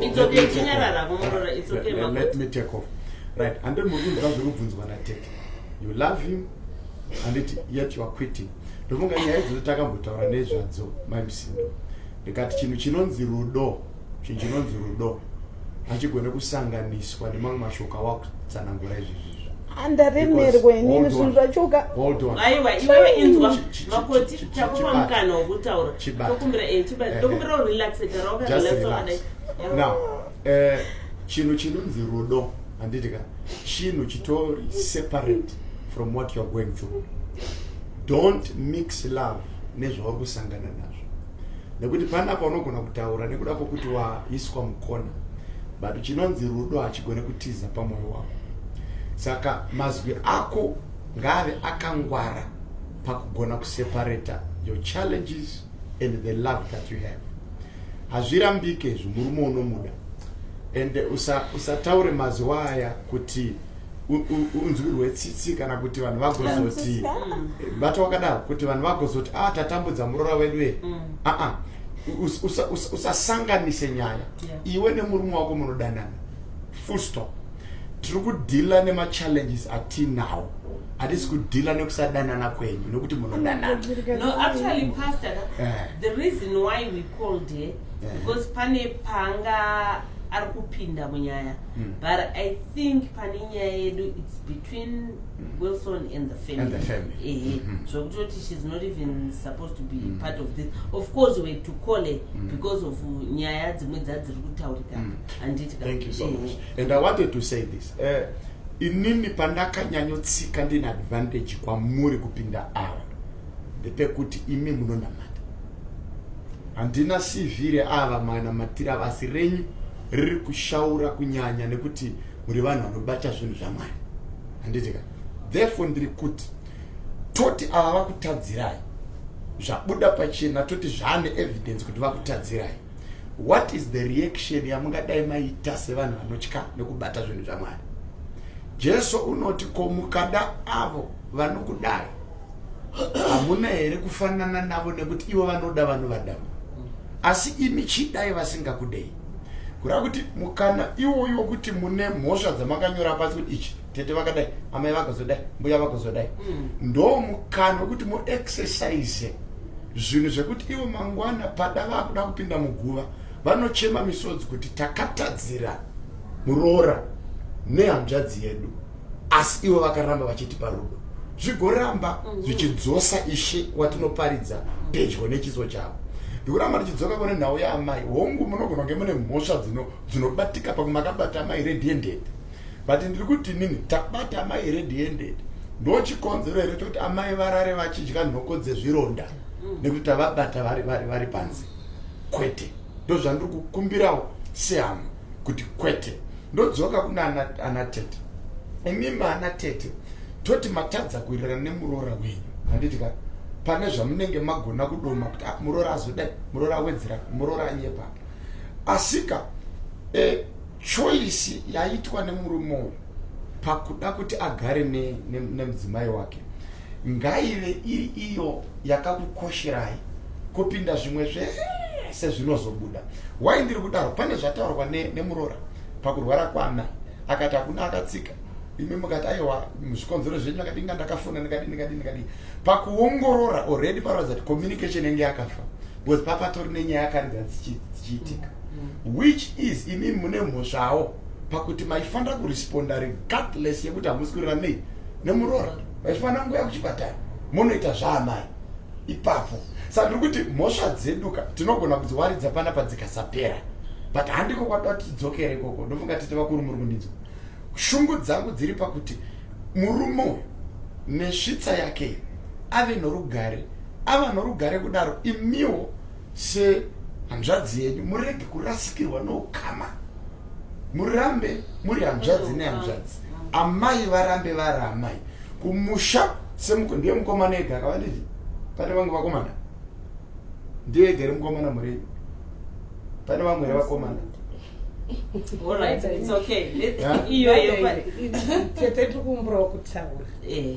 It's okay, chinyarara, kumurora, it's okay, Let, let me take off. Right, and then muri kunzwa zviri kubvunzwa natete. You love him, and it, yet you are quitting. Ndofunga nyaya idzo takambotaura nezvadzo, maimsindo. Ndikati chinhu chinonzi rudo Chinhu chinonzi rudo hachigone kusanganiswa nemamwe mashoko awakutsanangura izvizvi andaremerwa inini zvinhu zvachoka aiwa iwewe inzwa makoti takupa mukana wokutaura tokumbira eh, chibati eh, tokumbira eh. urelaxe gara wakarelaxoadai now chinhu chinonzi rudo handiti ka chinhu chitori separate from what youare going through don't mix love nezvauri kusangana nazvo nekuti pana paunogona kutaura nekuda kwokuti waiswa mukona but chinonzi rudo hachigone kutiza pamwoyo wako saka mazwi ako ngaave akangwara pakugona kuseparata your challenges and the love that you have hazvirambike izvi murume unomuda and usataure usa mazwi aya kuti unzwi rwetsitsi kana kuti vanhu vagozoti bata wakadaro kuti vanhu vagozoti a ah, tatambudza muroora wedu e mm. aa ah, ah. usasanganise nyaya iwe nemurume wako munodanana full stop tiri kudhila nemachallenges atinawo hatisi kudhila nekusadanana kwenyu nekuti munodanana eh. eh. pane panga ari kupinda munyaya mm. but i think pane nyaya yedu its between mm. wilson and the family ehe mm -hmm. zvokutoti shes not even supposed to be mm. part of this of course were to call her mm. because of nyaya dzimwe dzadziri kutaurikana mm. anditi thank you so eh. much and i wanted to say this uh, inini pandakanyanyotsika ndine advantage kwamuri kupinda ava ndepekuti imi munonamata handina cv reava manamatira vasi renyu riri kushaura kunyanya nekuti muri vanhu vanobata zvinhu zvamwari handitika therefore ndiri kuti toti ava vakutadzirai zvabuda pachena toti zvaane evidence kuti vakutadzirai what is the reaction yamungadai maita sevanhu vanotya nekubata zvinhu zvamwari jesu unoti ko mukada avo vanokudai hamuna here kufanana navo nekuti ivo vanoda vanhu vadama asi imi chidai vasingakudei kureva kuti mukana iwoyo wekuti mune mhosva dzamakanyora pasi kuti ichi tete vakadai amai vakazodai mbuya vakazodai mm. ndo mukana wekuti muexercise zvinhu zvekuti ivo mangwana pada vakuda kupinda muguva vanochema misodzi kuti takatadzira muroora nehanzvadzi yedu asi ivo vakaramba vachitipa rudo zvigoramba mhm. zvichidzosa ishe watinoparidza pedyo nechiso chavo ndikuramba ndichidzoka kune nhau yaamai hongu munogona kunge mune mhosva dzinobatika pamwe makabata amai red handed but ndiri kuti nini tabata amai red handed ndo chikonzero here chokuti amai varare vachidya nhoko dzezvironda mhm. nekuti tavabata vari panze kwete ndozvandiri kukumbirawo sehama kuti kwete ndodzoka kuna ana tete imimi ana tete toti matadza kuirira nemuroora wenyu handiti ka pane zvamunenge magona kudoma kuti ah, muroora azodai muroora awedzera muroora anyepa asika e, choisi yaitwa nemurume uyu pakuda kuti agare nemudzimai ne, ne wake ngaive iri iyo yakakukosherai kupinda zvimwe zvese zvinozobuda wai ndiri kudaro pane zvataurwa nemuroora ne pakurwara kwana akati hakuna akatsika imi mukati aiwa zvikonzero zvenyu akati inga ndakafona ndikadi ndikadi ndikadi pakuongorora already paroratidza kuti communication yange yakafa because papatori nenyaya yakaridza dzichiitika mm-hmm. which is imi mune mhosvawo pakuti maifanira kuresponda regardless yekuti hamusi kurira nei nemuroora vachifana nguya kuchipatara monoita zvaamai ipapo saka ndiri kuti mhosva dzeduka tinogona kudziwaridza pana padzikasapera but handiko kwatoda kuti tidzokere ikoko ndofunga tete vakuru muri kundinzwa shungu dzangu dziri pakuti murume uyu nesvitsa yake ave norugare ava norugare kudaro imiwo se hanzvadzi yenyu murege kurasikirwa noukama murambe muri hanzvadzi nehanzvadzi amai varambe vari amai kumusha semuko ndiye mukomana ega akava ndizvi pane vamwe vakomana ndiye ega ri mukomana murenyu pane vamwe re vakomana iyoyoetetikumburawo kutaura eh.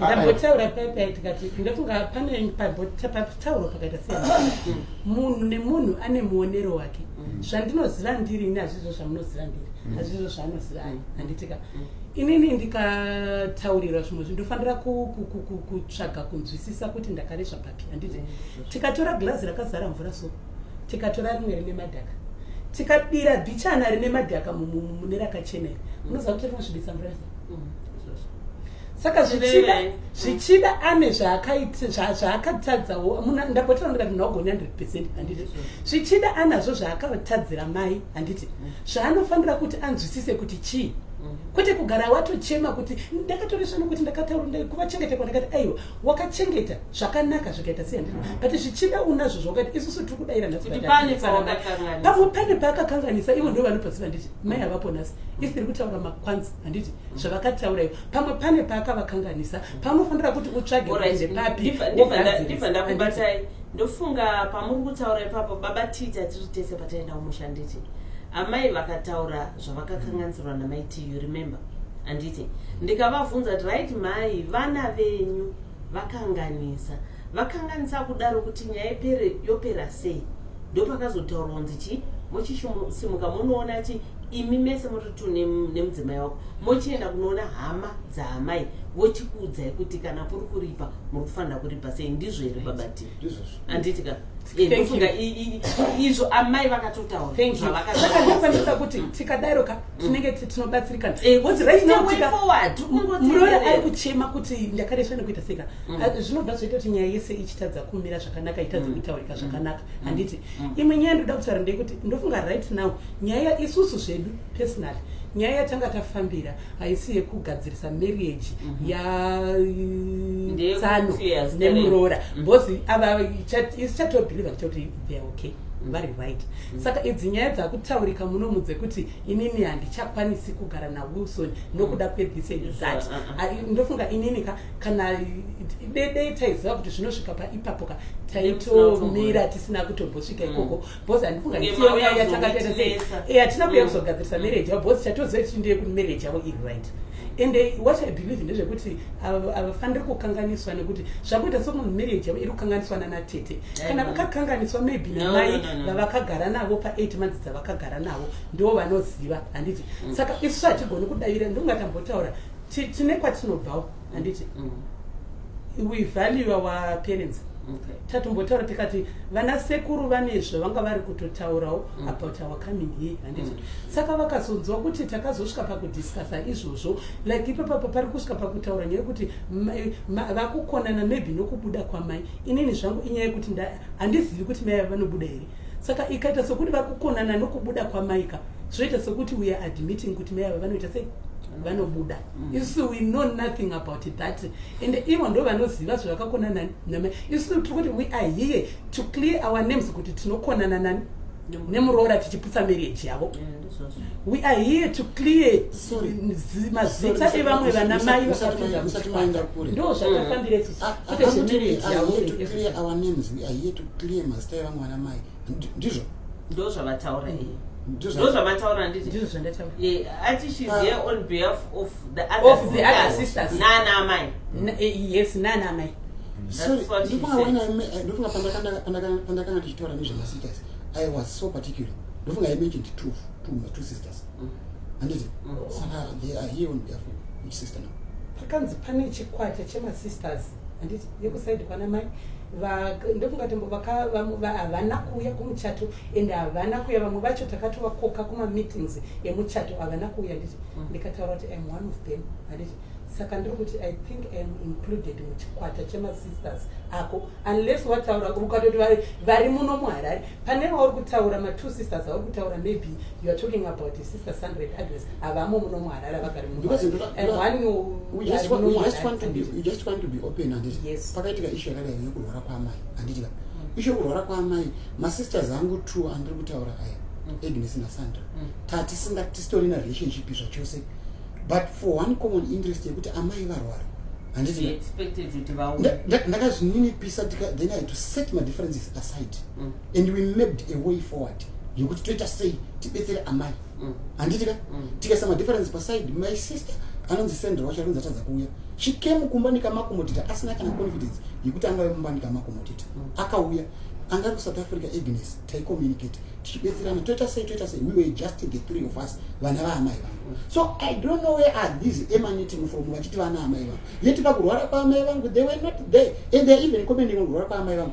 ndambotaura paya paya tikati ndofunga pane patauro pakaita se munhu nemunhu ane muonero wake mm. zvandinoziva ndiri ini hazvizvo zvamunoziva ndiri mm. hazvizvo zvaanoziva ani mm. handitika inini ndikataurirwa zvimwe zvi ndofanira kutsvaga kunzwisisa kuti ndakaresva handiti tikatora glazi rakazara mvura so tikatora rimwe rine madhaka tikabira bichana rine madhaka mune rakachena iri unoziva kuti rinosvibisa mvura saka zvichida zvichida ane zvaakatadzawo ndapotera ndikati ndinogoni 100 percent handiti zvichida anazvo zvaakatadzira mai handiti zvaanofanira kuti anzwisise kuti chii kwete kugara watochema kuti ndakatoresvana kuti ndakataura kuvachengetekwa ndakati aiwa wakachengeta zvakanaka zvikaita sei handina but zvichida unazvo zvakati isusu tiri kudaira nhapamwe pane paakakanganisa ivo ndo vanopaziva nditi mai havapo nhasi isi tiri kutaura makwanzi handiti zvavakataura ivo pamwe pane paakavakanganisa panofanira kuti utsvage kuende papidiva ndakubatai ndofunga pamuri kutaura ipapo baba tita tiri tese pataenda kumushanditi amai vakataura zvavakakanganisirwa namai tu remember handiti ndikavabvunza kuti right mai vana venyu vakanganisa vakanganisa kudaro kuti nyaya ipere yopera sei ndopakazotaurwa kunzi chii mochisimuka munoona chi imi mese mototu nemudzimai wako mochienda kunoona hama dzaamai vochikuudzai kuti kana kuri kuripa muri kufanira kuripa sei ndizvo here babatii handiti ka ndofunga izvo amai vakatotauraakandifanisa kuti tikadaro ka tinenge tinobatsirikana muroora ari kuchema kuti ndakaresva nekuita seka zvinobva zvaita kuti nyaya yese ichitadza kumira zvakanaka itadza kutaurika zvakanaka handiti imwe nyaya ndoda kutaura ndeyekuti ndofunga right now nyaya isusu zvedu personally nyaya yatanga tafambira haisi yekugadzirisa marriage mm -hmm. yatsano nemuroora mhm. bcause mm -hmm. ava isichatobiliva kuita kuti they are okay mhm. vari right mm -hmm. saka idzi nyaya dzakutaurika muno mudze kuti inini handichakwanisi kugara nawilson nokuda mhm. kwethis and that uh, uh, uh. ndofunga inini ka kana dede taiziva kuti zvinosvika paipapo ka taitomira tisina kutombosvika ikoko mm -hmm. boss andifunga ndichiyaaakaeatina kuya kuzogadzirisa mm. marriage yavo boss chatoziva kuti ndiye kuti marriage yavo iri right and eh, what i believe ndezvekuti havafaniri kukanganiswa nekuti zvakuita sokunzi marriage yavo iri kukanganiswa nanatete kana vakakanganiswa maybe namai vavakagara navo paeight months dzavakagara navo ndo vanoziva handiti mm. saka isu hatigoni kudavira ndongatambotaura tine kwatinobvawo handiti mm. we value our parents okay. tatombotaura tikati vana sekuru vane zvavanga vari kutotaurawo mm. about our coming here handiti mm. saka vakazonzwa kuti takazosvika pakudiscussa izvozvo like ipapapa pari kusvika pakutaura nyaya yekuti vakukonana maybe nokubuda kwamai inini zvangu inyaya yekuti handizivi kuti mai vanobuda here saka ikaita sokuti vakukonana nokubuda kwamaika zvoita sokuti weare admitting kuti mai ava vanoita sei vanobuda mm. Mm. isu we know nothing about that and ivo ndo vanoziva zvavakakona nama isu tiri kuti we are here to clear our names kuti tinokonana nani nemuroora tichiputsa marriage yavo we are here to clear mazita evamwe vana mai ndo zvatafambire kuti zvemarriage yavo ndizvo ndo zvavataura iye ndo zvavataura handitiati shes here on behalf of the other sisters nana amai eh, yes nana amai ndofunga pandakanga ndichitaura nezvemasitas i was so particular ndofunga i mentioned two, two, two sisters mm. handiti mm. saka they are here on behalf of each sister now pakanzi pane chikwata chemasisters handiti yekusaidi kwana mai ndofunga tembo havana kuuya kumuchato and havana kuuya vamwe vacho takatovakoka kumameetings emuchato havana kuuya nditi mm. ndikataura kuti im one of them handiti saka ndiri kuti i think im included muchikwata chemasisters ako unless wataura ukatoti vari muno muharare pane vauri kutaura matwo sisters auri kutaura maybe You are talking about his sister Sandra and Agnes. Avamo muno muharara vagari muno. Because you and one you we just, want, we just want to be we just want to be open and it. Yes. Pakaitika issue yakadai yekurwara kwamai and it. Mm. Issue yekurwara kwamai ma sisters angu two andiri kutaura aya. Mm. Agnes na Sandra. Mm. Tati singa tistori na relationship zvachose. But for one common interest yekuti amai varwara. And it. Expected to devour. Ndakazvininipisa then I had to set my differences aside. Mm. And we mapped a way forward. yekuti toita sei tibetsere amai mm. handiti ka mm. tikaisa madifference paside my sister anonzi sendra wacho anonzi atadza kuuya she came kumba nikamakomotita asina kana confidence yekuti angave mumba nikamakomotita mm. akauya anga kusouth africa agnes taicommunicate tichibetserana toita sei toita sei we were just the three of us vana vaamai vangu so i don't know where are these emanating from vachiti vana amai vangu yeti pakurwara kwaamai vangu they were not there and they're even commenting on kurwara kwaamai vangu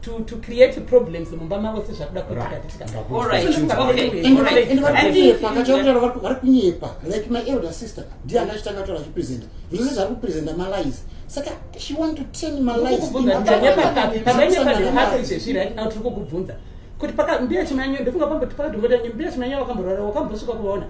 to, to create problems mumba mavo sezvakuda kuitaaakataura vari kunyepa like my elder sister ndiye anga achitanga kutaura achipresenta zvose zvari kupresenta malies saka she want to turn maliesezvirikukubvunza kuti pakambiya chimanyo ndofunga pamboti pakati mbotanyo mbiya chimanyo vakamborwara wakambosvika kuvaona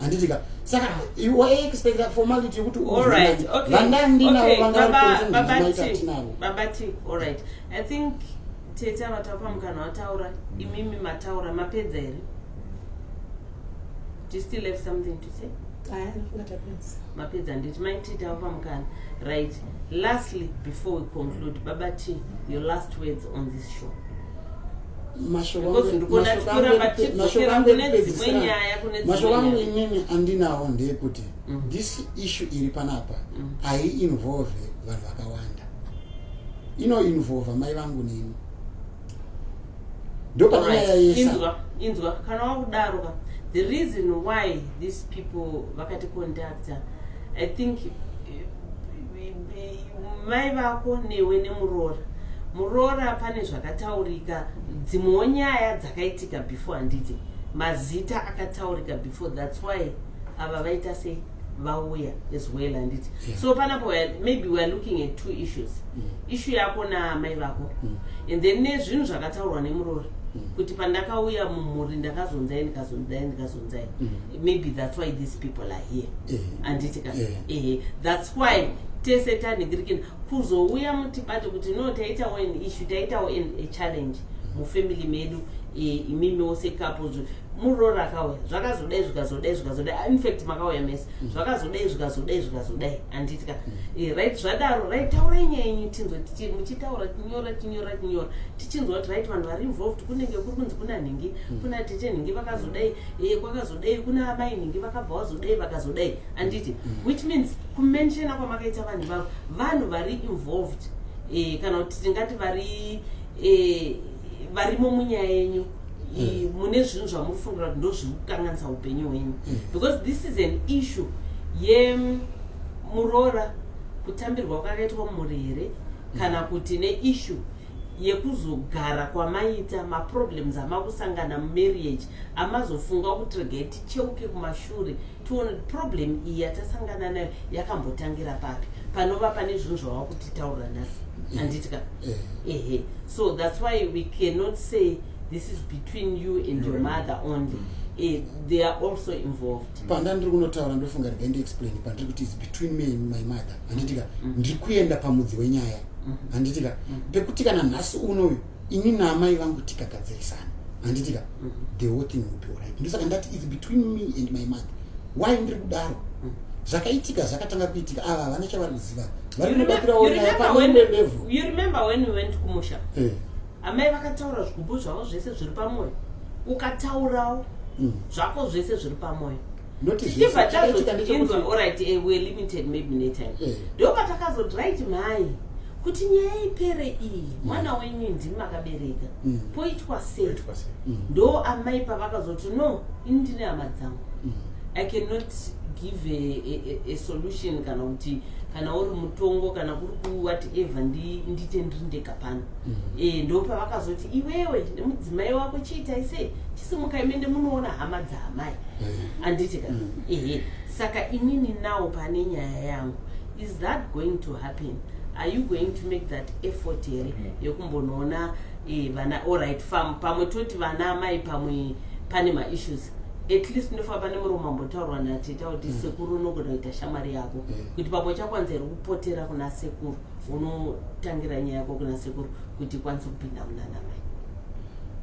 handitika saka waiexpecta formality yekuti vanandinaoangaababati allright i think tete avatapa mukana wataura imimi mataura mapedza here do you still have something to say mapedza nditi maititi avo pamukana right lastly before we conclude baba t your last words on this show mashoko angu inini andinawo ndeyekuti mm. this issue iri panapa mm. haiinvolve vanhu vakawanda inoinvolva mai vangu nini ndopanyaya yesa inzwa kana wakudaroka the reason why these people vakaticonductor i think mai vako newe nemuroora muroora pane zvakataurika dzimwewo nyaya dzakaitika before handiti mazita akataurika before thats why ava vaita sei vauya as well handiti yeah. so panapo maybe weare looking at two issues mm. ishu yako namai vako mm. and then nezvinhu zvakataurwa nemuroora mm. kuti pandakauya mumhuri ndakazonzai ndikazonzai ndikazo kuzvibvunza here mm. maybe that's why these people are here eh. anditi ka eh. ehe that's why tese tanhingirikina kuzouya mutibate kuti no taitawo an issue taitawo a challenge mufamily medu e, imimiwo sekapo muroora akauya zvakazodai zvikazodai zvikazodai ah, infact makauya mese mm. zvakazodai zvikazodai zvikazodai anditi ka mm. e, right zvadaro right taurai nyaya yenyu tinzwa muchitaura tinyora tinyora tinyora tichinzwa kuti right vanhu vari involved kunenge kuri kunzi kuna nhingi hmm. kuna tete nhingi vakazodai e, kwakazodai kuna amai nhingi vakabva vazodai vakazodai anditi hmm. which means kumenshena kwamakaita vanhu vavo vanhu vari involved e, kana kuti tingati vari e, varimo munyaya yenyu e, mune zvinhu zvamuri fungira kuti ndozviri kukanganisa upenyu hwenyu hmm. because this is an issue yemuroora kutambirwa kwakaitwa mumhuri here kana kuti neissue yekuzogara kwamaita maproblems amakusangana mumarriage amazofunga kuti regai ticheuke kumashure tione kuti problem iyi yatasangana nayo yakambotangira papi panova pane zvinhu zvava kutitaurira nhasi eh, anditika eh. ehe so that's why we cannot say this is between you and your mother only eh, they are also involved panda ndiri kunotaura ndofunga regai ndiexplain pandiri kuti is between me and my mother handitika mm. ndiri kuenda pamudzi wenyaya mm. handitika mm. pekuti kana nhasi unoyu ini naamai vangu tikagadzirisana handitika mm. the whole thing will be alright ndosaka ndati its between me and my mother why ndiri kudaro mm. zvakaitika zvakatanga kuitika ava havana chavari kuziva vari kunobatira onapaeekumusha eh. amai vakataura zvigubu zvavo zvese zviri pamwoyo ukataurawo mm. zvako zvese zviri pamwoyo tichibva tazotinzwa orit eh, weare limited maybe netime eh. ndopatakazoti right mhai kuti nyaya ipere iyi mm. mwana wenyu ndimi makabereka mm. poitwa sei mm. ndo amai pavakazoti no ini ndine hama dzangu i cannot give a, a, a solution kana kuti kana uri mutongo kana kuri kuwhatever nditendirindeka pano mm. e, ndopavakazoti iwewe nemudzimai wako chiitai sei chisimukai mende munoona hama dzaamai mm. anditi ka mm. ehe saka inini nawo pane nyaya yangu is that going to happen are you going to make that effort here mm. yekumbonoona e, vana oright fam pamwe toti vana amai pamwe pane maissues at least ndofa pane murume ambotaurwa nateta kuti mm. sekuru unogona kuita shamwari yako mm. kuti pamwe chakwanza here kupotera kuna sekuru unotangira nyaya yako kuna sekuru kuti ikwanise kupinda munana mai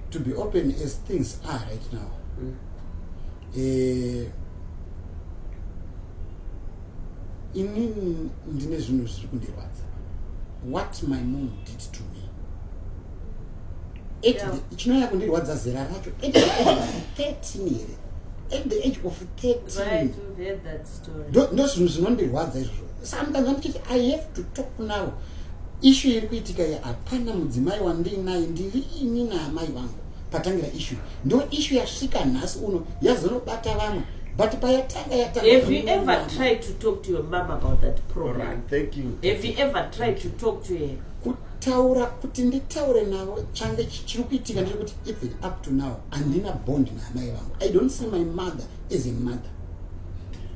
to be open as things are right now mm. eh, ini ndine zvinhu zviri kundirwadza what my mom did to me chinonyanya kundirwadza zera racho at the age of 13 here at the age of 13 right, ndo zvinhu zvinondirwadza izvozvo sometimes andichiti i have to talk now ishu iri kuitika iyi hapana mudzimai wandiinaye ndiri ini naamai vangu patangira ishu ndo ishu yasvika nhasi uno yazonobata vamwe but payatanga yatangaever kutaura kuti nditaure navo change chiri kuitika ndiri kuti even up to now handina bond naamai vangu i don't see my mother as a mother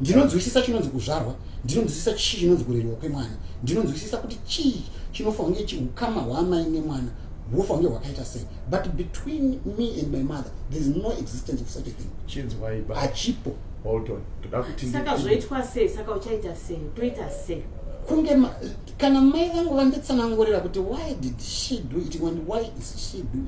ndinonzwisisa chinonzi kuzvarwa ndinonzwisisa chii chinonzi kurerwa kwemwana ndinonzwisisa kuti chii chinofa kunge chiukama hwaamai nemwana hwofa kunge hwakaita sei but between me and my mother there is no existence of such a thing chinzwaiba hachipo saka zvoitwa sei saka uchaita sei toita sei kunge kana mai vangu vanditsanangurira kuti why did she do it and why is she doing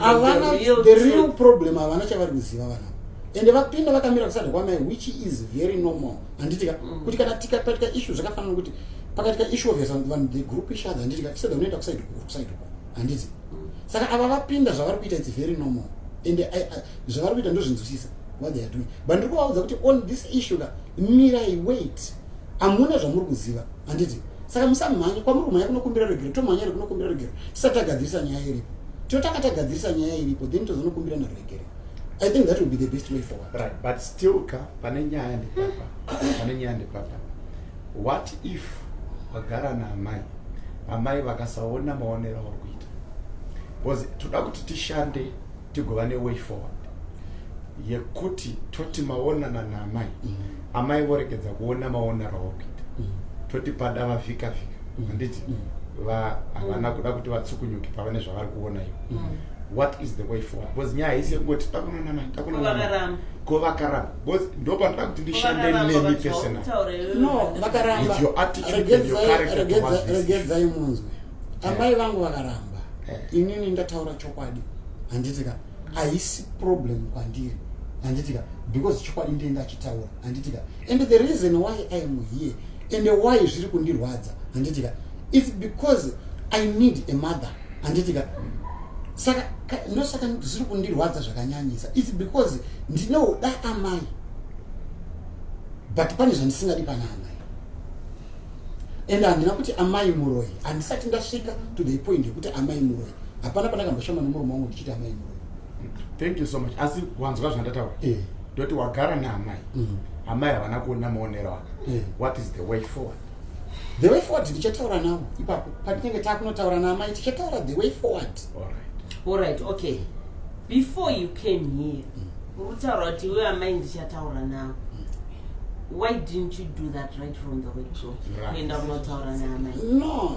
havana the real problem havana chavari kuziva vana ende vapinda vakamira kusada kwamai which is very normal handitika mm. kuti kana tika paitika issue zvakafanana kuti pakaitika issue of vanhu the group each other handitika tisada unoenda kusaidi kusaidi kwa handiti mm. saka ava vapinda zvavari kuita it's very normal ende eh, eh, zvavari kuita ndozvinzwisisa what they are doing but ndiri kuvaudza kuti on this issue ka mirai wait hamuna zvamuri kuziva handiti saka musamhanye kwamuri kumhanya kunokumbira regero tomhanya ri kunokumbira regero tisati tagadzirisa nyaya iripo totanga tagadzirisa nyaya iripo then tozonokumbira naregere i think that will be the best way forward right but still ka pane nyaya ndipapa pane nyaya ndipapa what if wagara naamai amai vakasaona maonero auri kuita bcause toda kuti tishande tigova ne way forward yekuti toti maonana naamai mm. amai voregedza kuona maonero awakuita mm. toti pada vavhika vhika mm. handiti mm. va havana kuda kuti vatsukunyuke pavane zvavari kuona ivo mm. what is the way forward because nyaya haisi yekungoti takunana mai takunana ko vakaramba because ndo panoda kuti ndishande nemi personal no vakaramba regedzai munzwe amai vangu vakaramba eh. inini ndataura chokwadi handitika haisi problem kwandiri handitika because chokwadi ndiye ndachitaura handitika and the reason why i am here and why zviri kundirwadza handitika its because i need a mother handitika saka ndosaka zviri kundirwadza zvakanyanyisa its because ndinoda amai but pane zvandisingadi pana amai and handina kuti amai muroyi handisati ndasvika to the point yekuti amai muroyi hapana pandakamboshama nomurume wangu ndichiti amai muroyi thank you so much asi wanzwa zvandataura eh. ndoti yeah. wagara naamai mm. amai havana kuona maonero aka yeah. what is the way forward the way forward ndichataura navo ipapo patinenge taakunotaura naamai tichataura the way forward allright allright okay before you came here mm. Ukutaura kuti iwe amai ndichataura nawo. Why didn't you do that right from the word go? Kuenda kunotaura naamai. No,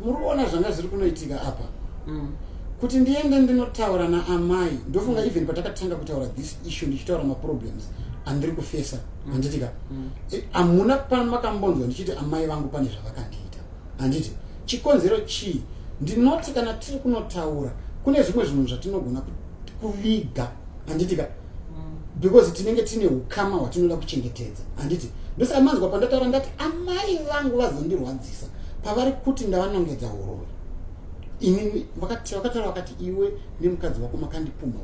muri kuona zvanga zviri kunoitika apa. Mm. Kuti ndiende ndinotaura naamai, ndofunga mm. even patakatanga kutaura this issue ndichitaura maproblems andiri kufesa mm. handiti ka mm. e, hamuna pano makambonzwa ndichiti amai vangu pane zvavakandiita handiti chikonzero chii ndinoti kana tiri kunotaura kune zvimwe zvinhu zvatinogona kuviga handiti ka mm. because tinenge tine ukama hwatinoda kuchengetedza handiti ndosaka manzwa pandataura ndati amai vangu vazondirwadzisa pavari kuti ndavanongedza uroi inini vakataura vakati iwe nemukadzi wako makandipumha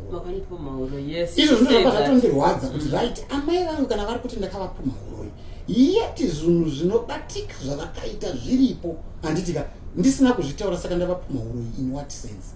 uroi izvo zvinozvapa zvatondirwadza kuti mm. right amai vangu kana vari kuti ndakavapumha uroi yeti zvinhu zvinobatika zvavakaita zviripo handitika ndisina kuzvitaura saka ndavapumha uroi in what sense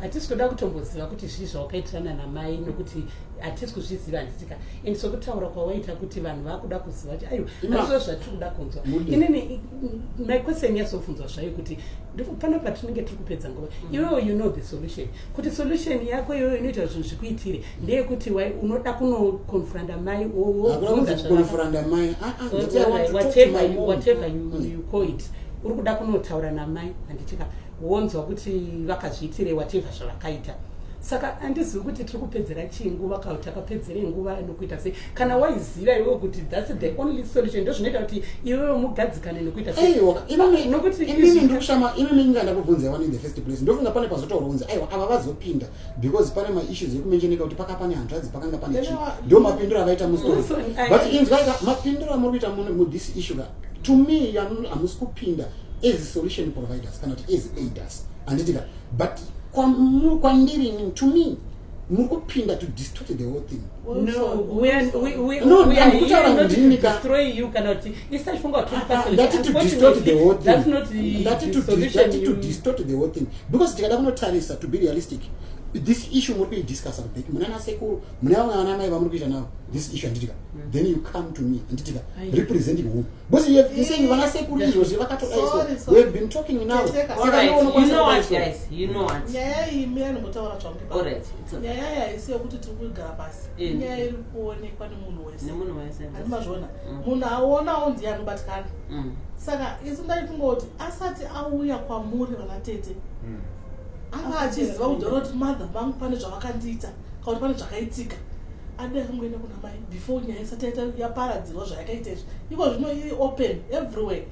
hatisi kuda kutomboziva kuti zvii zvawakaitirana namai nokuti hatisi kuzviziva handitika and sokutaura kwawaita kuti vanhu vakuda kuziva kuti ayo azvo zvatiri kuda kunzwa inini my question yazobvunzwa zvayo kuti pano patinenge tiri kupedza nguva mm. iwewo you know the solution kuti solution yako iyoyo inoita zvinhu zvikuitire ndeyekuti unoda kunoconfranda mai owoconfranda mai ah, ah, you call it uri kuda kunotaura namai handitika wonzwa kuti vakazviitire whatever zvavakaita saka andizivi kuti tiri kupedzera chii nguva kau takapedzere nguva nokuita sei kana waiziva iwewe kuti thats the only solution ndo zvinoita kuti iwewe mugadzikane nekuita inini ndikushama inini inga ndakubvunza one in the first place ndofunga pane pazotaura kunzi aiwa ava vazopinda because pane maissues ekumenjeneka kuti paka pane hanzvadzi pakanga pane chii ndo mapindiro avaita mustori but inzwaika mapindiro amuri kuita mudhis issue ka to me hamusi kupinda as solution providers kana kuti as aiders handitika but kwandiri to me muri kupinda to distort the whole thing because tikada kunotarisa to be realistic this issue muri kuidiscussa kubeki muna nasekuru mune vamwe vana mai vamuri kuita navo this issue anditika mm. then you come to me anditika representing who because you have saying vana sekuru izvozvi vakatodaiswa we have been talking now saka ndoonokwanisakudaiswa Alright, it's okay. nyaya yaisi yekuti tiri kuigara pasi Eh. inyaya iri kuonekwa nemunhu wese Nemunhu wese. Handi mazviona Mm. munhu aonawo ndiye anobatikana Mm. saka isu ndaifunga kuti asati auya kwamuri vana tete Mm. anga achiziva kudhora kuti mother vangu pane zvavakandiita kana kuti pane zvakaitika ade akangoenda kuna mai before nyaya isati yaita- yaparadzirwa zvayakaita izvi iko zvino iri open everywhere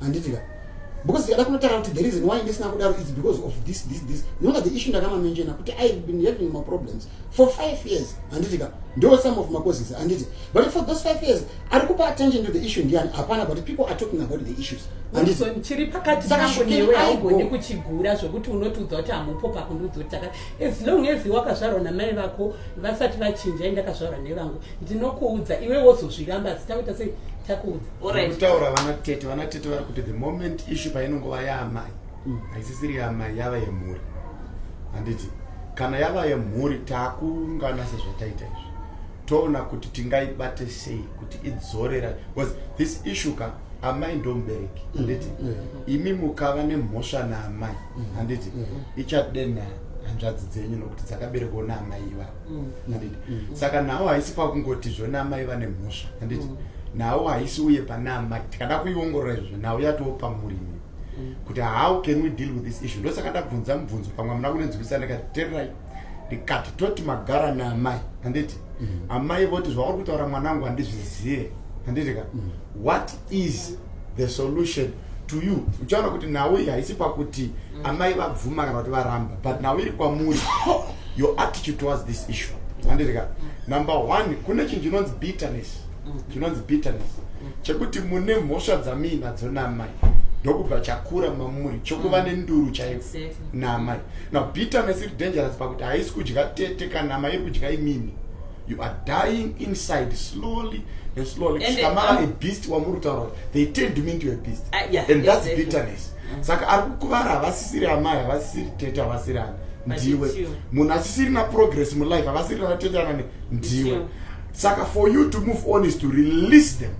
handiti ka because ndikada kunotaura kuti the reason why ndisina kudaro is because of this this this ndinoona the issue ndakamaminjena kuti i been having my problems for five years handiti ka ndo some of macauses handiti but for those five years ari kupa attention to the issue ndiyani hapana but people are talking about the issues chiri pakati pangu newe haugoni kuchigura zvokuti unotiudza kuti hamupo pakundiudzotaka as long as wakazvarwa namai vako vasati vachinja indakazvarwa nevangu ndinokuudza iwe wozozviramba asi takuita sei takuudza kutaura vana tete vana tete vari kuti the moment issue painongova yaamai mm. haisisiri yaamai yava yemhuri handiti kana yava yemhuri taakuungana sezvataita izvi toona kuti tingaibate sei kuti idzorera bcause this issue ka amai ndomubereki mm. handiti mm. imi mukava nemhosva naamai handiti ichadena hanzvadzi dzenyu nokuti dzakaberekwa naamai ivavo mm. handiti mm. saka nhau haisi pakungoti zvona amai vane mhosva handiti mm. nhau haisi uye pane amai tikada kuiongorora izvozvo nhau yatowo pamurimi mm. kuti how can we deal with this issue ndosaka ndabvunza mubvunzo pamwe amuna kunenzwisa ndikati tererai ndikati toti magara naamai handiti mm. amai voti zvauri kutaura mwanangu handizvizive handiti ka mm. what is the solution to you uchaona kuti nhau iyi haisi pakuti mm. amai vabvuma kana kuti varamba but nhau iri kwamuri your attitude towards this issue andirika mm. number one kune chinhu chinonzi bitterness mm. chinonzi bitterness chekuti mune mhosva dzamiinadzo naamai ndokubva chakura mamuri chokuva nenduru chaivo naamai now bitterness iri dangerous pakuti haisi kudya tete kana amai iri kudya imimi you are dying inside slowly and slowly kusvika mava um, a beast wamuri kutaura kuti they turned me into a beast uh, yeah, and that's exactly. bitterness mm. saka ari kukuvara havasisiri amai havasisiri tete havasiri ani ndiwe munhu asisiri na progress mulife havasiri na tete anani ndiwe saka for you to move on is to release them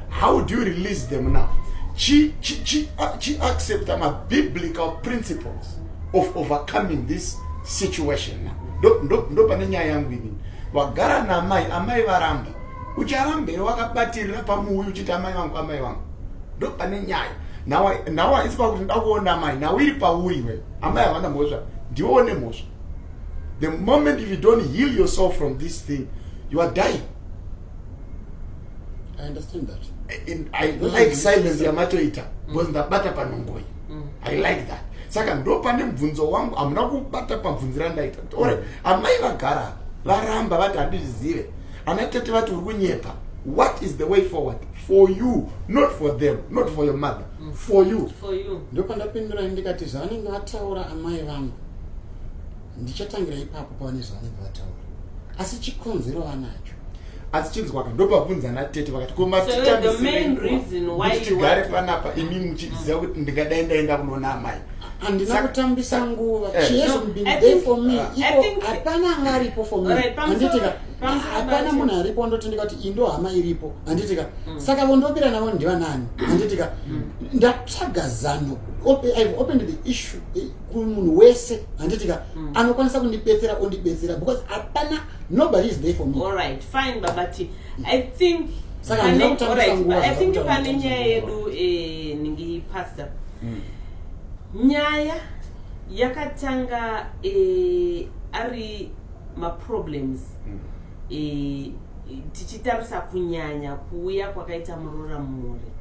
how do you release them now chi chi chi uh, chi accepta mabiblical principles of overcoming this situation ndo pane nyaya yangu inini wagara naamai amai varamba ucharamba here wakabatirira pamuuyi uchiti amai vangu amai vangu ndo pane nyaya nawo haisi pakuti nda kuona amai nawo iri pauri iwe amai havana mhosva ndiwe one mhosva the moment if you don't heal yourself from this thing you are dying I understand that. I, I like silence yamatoita because mm. ndabata panongoyi mm. i like that saka ndopane mubvunzo wangu hamuna kubata pabvunzi randaita ore mm. amai vagara varamba vati handizvizive ana tete vati uri kunyepa what is the way forward for you not for them not for your mother mm. for you ndopandapindura ndikati zvavanenge vataura amai vangu ndichatangira ipapo pavane zvavanenge vataura asi chikonzero vanacho asi chinzwaka ndobvabvunza natete vakati komatigare panapa imi muchiziva kuti ndingadai ndaenda kunoona amai handina kutambisa nguva eh. shehapana anga aripo fohanditika hapana munhu aripo ndoti ndikati indo hama iripo handitika mm. saka vondobira navo ndivanani handitika mm. ndatsvaga zano open the issue kumunhu wese handitika mm. anokwanisa kundibetsera ondibetsera because hapana nobody is there for me all right fine baba t i think saka ndina kutambisa nguva i think pane nyaya yedu eh, ningi pastor mm. nyaya yakatanga eh, ari maproblems mm. eh, tichitarisa kunyanya kuuya kwakaita muroora mhuri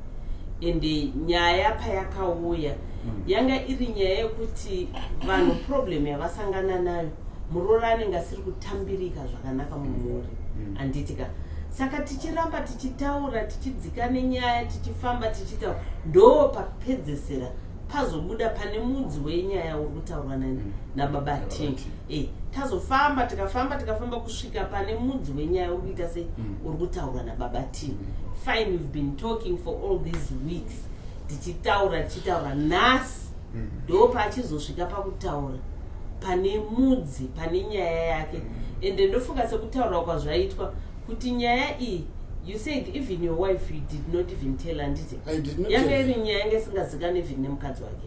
ende nyaya payakauya mm. yanga iri nyaya yekuti vanhu problem yavasangana nayo muroora anenge asiri kutambirika zvakanaka mumhuri mm. anditika mm. saka tichiramba tichitaura tichidzika nenyaya tichifamba tichitaura ndo papedzesera pazobuda pane mudzi wenyaya uri kutaurwa mm. nababa t e tazofamba tikafamba tikafamba kusvika pane mudzi wenyaya uri kuita sei mm. uri kutaura nababa t mm. fine we've been talking for all these weeks tichitaura tichitaura nhasi mm. ndo paachizosvika pakutaura pane mudzi pane nyaya yake ende ndofunga sekutaura kwazvaitwa kuti nyaya iyi you said even your wife you did not even tell anditi yanga iri nyaya yange isingazikani even nemukadzi wake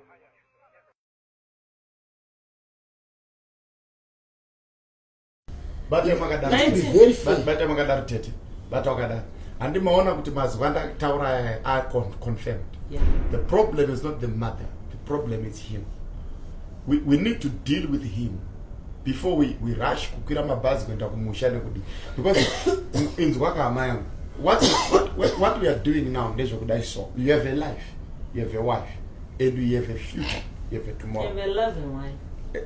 bata makadaro tete bata wakadaro handimaona kuti mazuva ndataura are confirmed yeah. the problem is not the mother the problem is him we, we need to deal with him before we, we rush kukwira mabhazi kuenda kumusha nekudi because inzwa kahama yangu what, what, what we are doing now ndezvekudai so you have a life you have a wife and you have a future you have a tomorrow you have a loving wife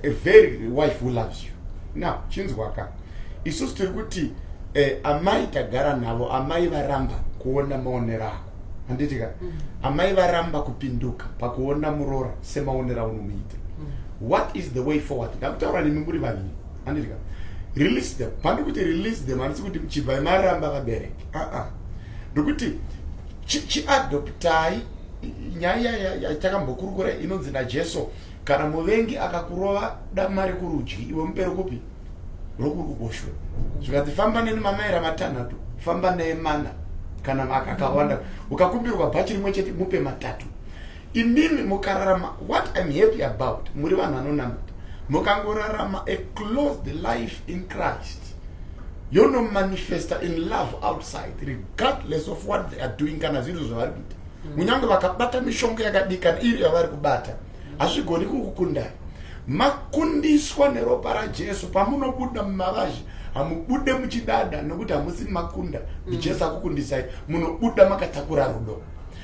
a, a very wife who loves you now chinzwaka isusu tiri kuti eh, amai tagara navo amai varamba kuona maonero ako handitika mm. amai varamba kupinduka pakuona murora semaonero aunomuita mm. what is the way forward ndakutaura nemi muri vaviri handitika release them pandikuti release them handisi kuti chibvai maramba vabereki aa ndokuti chiadoptai nyaya yatakambokurukura inonzi najesu kana muvengi akakurova dama rekurudyi iwe mupere kupi rokuri kuboshwe zvikanzi famba neni mamaira matanhatu famba neye mana kana maka akawanda ukakumbirwa bhachi rimwe chete mupe matatu imimi mukararama what im happy about muri vanhu vanonamata mukangorarama a closed life in christ yonomanifesta in love outside regardless of what they are doing kana zvinhu zvavari kuita mm. kunyange vakabata mishonga yakadikana iri yavari kubata hazvigoni kukukundai makundiswa neropa rajesu pamunobuda mumavazhe hamubude muchidada nokuti hamusi makunda ndijesu mm. akukundisai munobuda makatakura rudo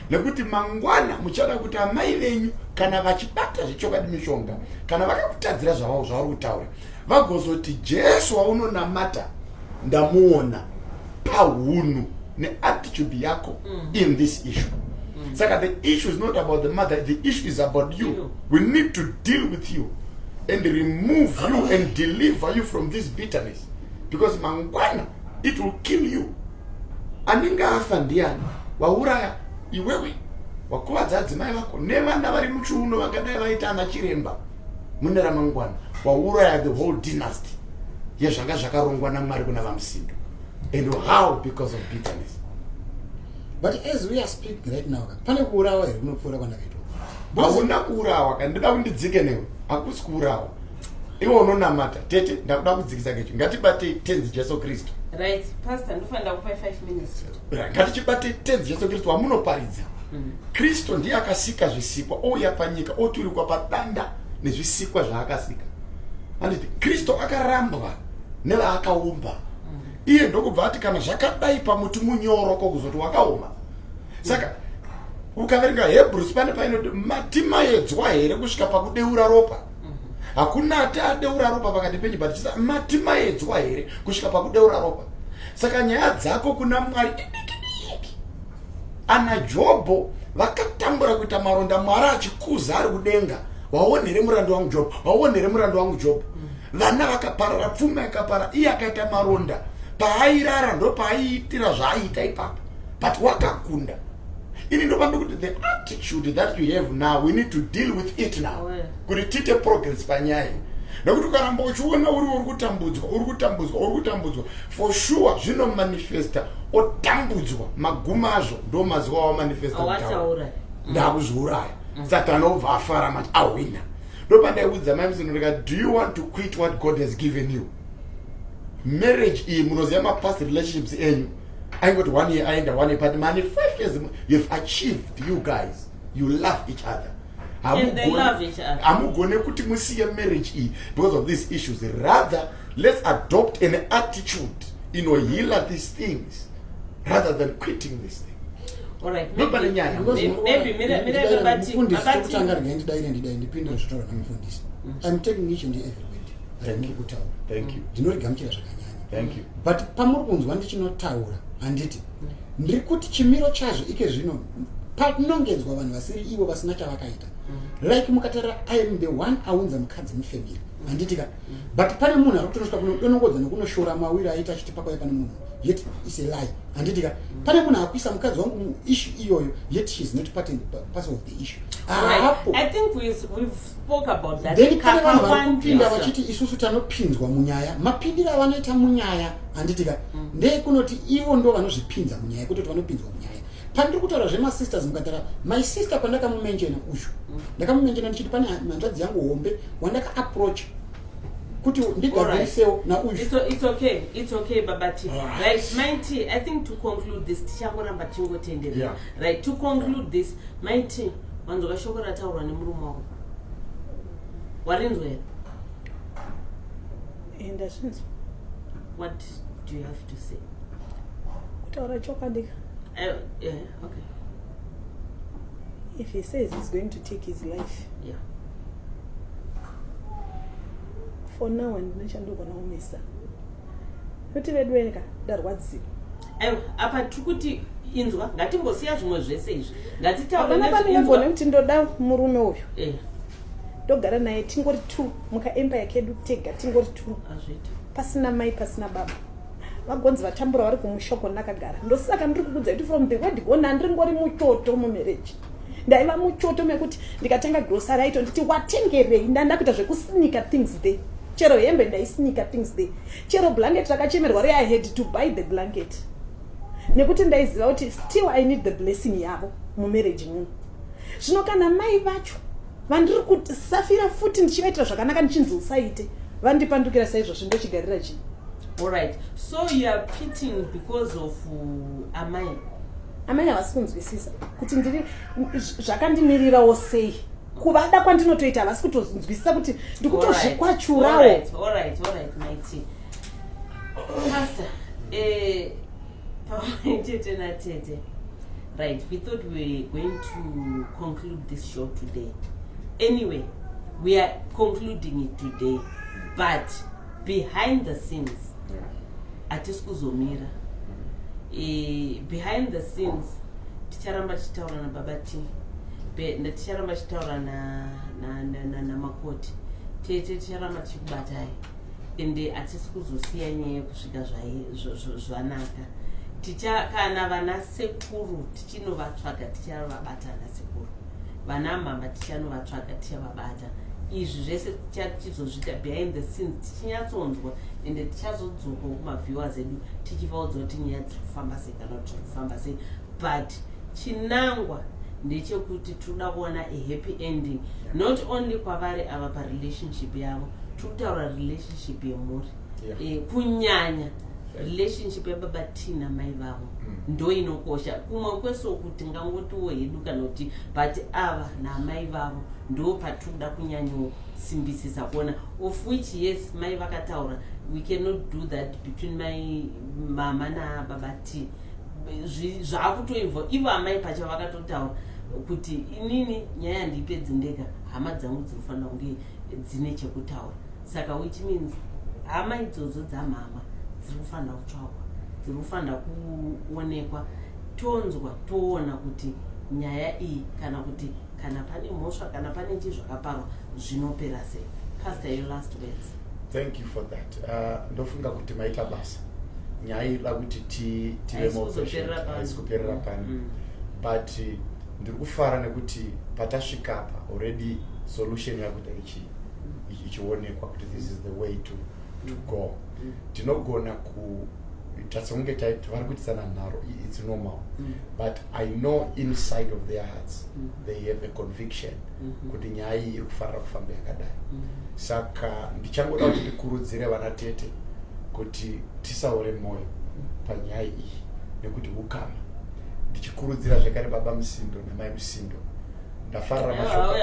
nekuti mangwana muchada kuti amai venyu kana vachibata zvechokwadi mishonga kana vakakutadzira zvavao zvavari kutaura vagozoti jesu waunonamata ndamuona pahunhu neattitude yako mm. in this issue mm. saka the issue is not about the mother the issue is about you we need to deal with you and remove you and deliver you from this bitterness because mangwana it will kill you anenge afa ndiani wauraya iwewe wakuvadza adzimai vako nevana vari muchiuno vangadai vaita ana chiremba mune ramangwana wauraya the whole dynasty yezvanga zvakarongwa namwari kuna vamusindo and how because of bitterness but as we are speaking right now pane kuurawa here kunopfuura kwandakaitwa hauna kuurawa kandida kundidzike newe hakusi kuurawa iwe unonamata tete ndakuda kudzikisa kecho ngatibatei tenzi jesu kristu ngatichibatei tenzi jesu kristu wamunoparidza mm. kristu ndiye akasika zvisikwa ouya panyika oturikwa padanda nezvisikwa zvaakasika anditi kristu akarambwa nevaakaumba mm. iye ndokubva ati kana zvakadai pamuti munyoro ko kuzoti wakaoma saka ukaverenga hebrews pane painoti matimayedzwa here kusvika pakudeura ropa hakuna ati adeura ropa pakati penyu but chisa mati maedzwa here kusvika pakudeura ropa saka nyaya dzako kuna mwari idikidiki ana jobho vakatambura kuita maronda mwari achikuza ari kudenga waone here murandu wangu jobho waone here murandu wangu jobho vana vakaparara pfuma ikapara iye akaita maronda paairara ndo paaiitira zvaaiita ipapo but wakakunda ini ndopambe kuti the attitude that you have now we need to deal with it now kuti tiite progress panyaya nekuti ukaramba uchiona uri uri kutambudzwa uri kutambudzwa uri kutambudzwa for sure zvinomanifesta otambudzwa maguma azvo ndo mazuva awamanifesta kutaura ndakuzviuraya mm. satani obva afara mati ahwina ndopandaikudza mai msinotika do you want to quit what god has given you marriage iyi munoziva mapast relationships enyu aingoti one year aenda one year but mane five years you've achieved you guys you love each other hamugone kuti musiye marriage iyi because of these issues rather let's adopt an attitude inohealer these things rather than quitting this thing nopane nyayamufundisitokutanga ringai ndidai nendidai ndipindure zvitaura namufundisi mm. i'm taking each and every word rainekutaura ndinorigamuchira zvakanyaya Thank you. but pamuri kunzwa ndichinotaura handiti ndiri kuti chimiro chazvo ike zvino patinongedzwa vanhu vasiri ivo vasina chavakaita mm. like mukatarira iam the one aunza mukadzi mufemiri mm. handitika mm. but pane munhu ari kutonosvika kunodonongodza nekunoshora mawiri aita achiti pakwai pane munhu yet is a lie handitika pane munhu akuisa mukadzi wangu muissue iyoyo yet she is not part, part of the issue apo right. i think we've, we've then pane vanhu vari kupinda vachiti isusu tanopinzwa munyaya mapindiro avanoita munyaya handitika mm. ndeekunoti ivo ndo vanozvipinza munyaya kutoti vanopinzwa munyaya pandiri kutaura zvemasisters mukatara my sister pandakamumenjena uyu mm. ndakamumenjena ndichiti pane hanzvadzi yangu hombe wandaka approach kuti ndigadzirisewo nauyookay babati right mit i think to conclude this tichangoramba tichingotenderera right to conclude this mit wanzwa shoko rataurwa nemurume wako warinzwa here eh, ndazvinzwa what do you have to say kutaura chokwadika eh, eh, okay if he says he's going to take his life yeah for now handina chandogona kumisa kuti veduweka ndarwadziwa aiwa apa tiri kuti inzwa ngatimbosiya zvimwe zvese izvi ngatitaurapamingagona kuti ndoda murume uyu eh. ndogara naye tingori t mukaempire kedu tega tingori t pasina mai pasina baba vagonzi vatambura vari kumushoko ndakagara ndosaka ndiri kukudza kuti from the word gona ndiri ngori mutoto mumereji ndaiva muchoto mekuti ndikatanga grocery aito nditi watengerei ndanda kuita zvekusinika things there chero hembe ndaisinika things there chero blanket rakachemerwa re i had to buy the blanket nekuti ndaiziva kuti still i need the blessing yavo mumarriage muno zvino kana mai vacho vandiri kusafira futi ndichivaitira zvakanaka ndichinzi usaite vandipandukira saizvozvo ndochigarira chii allright so youare pitting because of uh, amai amai havasi kunzwisisa kuti ndiri zvakandimirirawo sei kuvada kwandinotoita havasi kutonzwisisa kuti ndikutozvikwachurawo eh, chete natete right we thought we were going to conclude this show today anyway we are concluding it today but behind the scenes hatisi kuzomira e, behind the scenes ticharamba tichitaura nababa t ticharamba tichitaura namakoti tete ticharamba tichikubatai ende hatisi kuzosiya nyaya yekusvika zvanaka ticha kana vana sekuru Tinovatsvaga tichavabata ana sekuru. Vana mama tichanovatsvaga tichavabata. Izvi zvese tichazozvita behind the scenes tichinyatsonzwa ende tichazodzoka kumaviewers edu tichivaudza kuti nyaya dziri kufamba sei kana kuti zviri kufamba sei but chinangwa ndechekuti tinoda kuona a happy ending not only kwavari ava parelationship yavo tiri kutaura relationship yemhuri yeah. e, kunyanya relationship yababa tina mai vavo mm. ndo inokosha kumwe kweso kuti ngangotiwo hedu kana kuti but ava namai vavo ndo patikuda kunyanyosimbisisa kuona of which yes mai vakataura we cannot do that between my mama nababa t zvaakutoibva ivo amai pacha vakatotaura kuti inini nyaya yandiipedzi ndega hama dzangu dzinofanira kunge dzine chekutaura saka which means hama idzodzo dzamhama dziri kufanira kutsvagwa dziri kufanira kuonekwa tonzwa toona kuti nyaya iyi kana kuti kana pane mhosva kana pane chii zvakaparwa zvinopera sei pastor your last words thank you for that uh, ndofunga uh, kuti maita basa nyaya iri da kuti tive moaisi kuperera pani mm. but uh, ndiri kufara nekuti patasvikapa already solution yakuda ichionekwa kuti this is the way to, to go mm. tinogona ku tatsonge taiti vari kuitisana nharo its normal mm. but i know inside of their hearts mm. they have a conviction mm-hmm. kuti nyaya iyi iri kufanira kufamba yakadai mm. saka ndichangoda kuti ndikurudzire vana tete kuti tisaore mwoyo panyaya iyi nekuti ukama ndichikurudzira zvekare baba musindo namai musindo ndafarira mashoko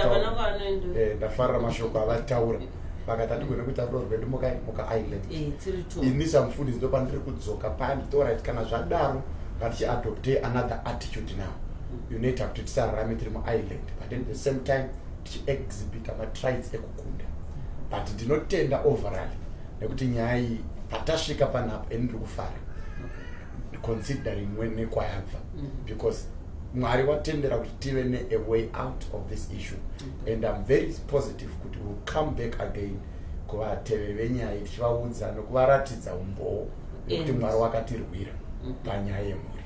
eh, ndafarira mashoko avataura vakati andigone kuita roo rwedu mukaisland eh, ini samufundisi ndo pandiri kudzoka pani torit kana zvadaro ngatichiadopte another attitude now mm. unoita kuti tisararame tiri muisland but at the same time tichiexhibita matrides ekukunda but ndinotenda overall nekuti nyaya iyi patasvika panapa ini ndiri kufara considering nekwayabva mm-hmm. because mwari vatendera kuti tive ne a way out of this issue mm-hmm. and im very positive kuti will come back again kuvateveri venyaya iyi tichivaudza nokuvaratidza umbowo nekuti mwari wakatirwira mm-hmm. panyaya yemhuri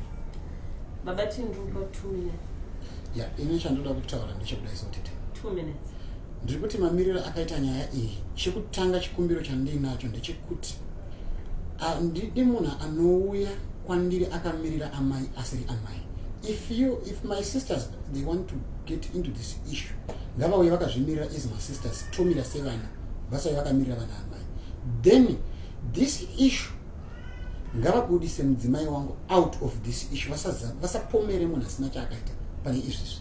baba tindupa two minutes ya ini chandoda kutaura ndechekuda isotete two minutes ndiri kuti mamiriro akaita nyaya iyi chekutanga chikumbiro chandiinacho ndechekuti handidi munhu anouya kwandiri akamirira amai asiri amai if you if my sisters they want to get into this issue ngavauye vakazvimirira as my sisters tomira sevana vasauye vakamirira vana amai then this issue ngavabudise mudzimai wangu out of this issue vasapomere munhu asina chaakaita pane izvizvi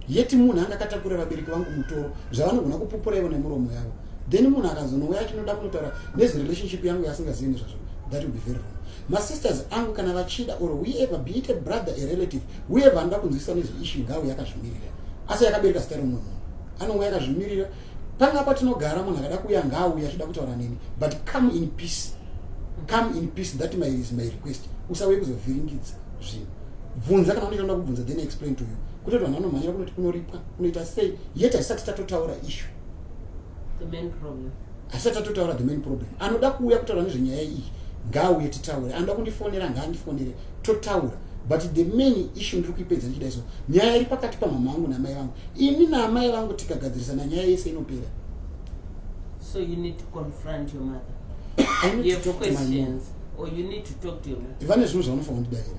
yeti munhu anga akatakura vabereki vangu mutoro zvavanogona kupupura ivo nemuromo yavo then munhu akazonouya achinoda kunotaura nezverelationship yangu yaasingazivi nezvazvo that will be very wrong masisters angu kana vachida or whoever be it a brother a relative whoever anoda kunzwisisa nezveishu ngauye akazvimirira asi yakabereka zita remumwe munhu anouya akazvimirira panga patinogara munhu akada kuuya ngaauye achida kutaura neni but come in peace come in peace that my, is my request usauye kuzovhiringidza zvinhu bvunza kana unotoda kubvunza then explain to you kutoti vanhu vanomhanyira kunoti kunoripwa kunoita sei yet haisati tatotaura ishu the main problem asi atatotaura the main problem anoda kuuya kutaura nezvenyaya iyi ngaauye titaure anoda kundifonera ngaandifonere totaura but the main issue ndiri kuipedza ndichida iso nyaya iri pakati pamama vangu namai vangu ini naamai vangu tikagadzirisana nyaya yese inopera so you need to confront your mother I need you to have talk questions to my mom. or you need to talk to your mother vane zvinhu zvavanofanira kundidavira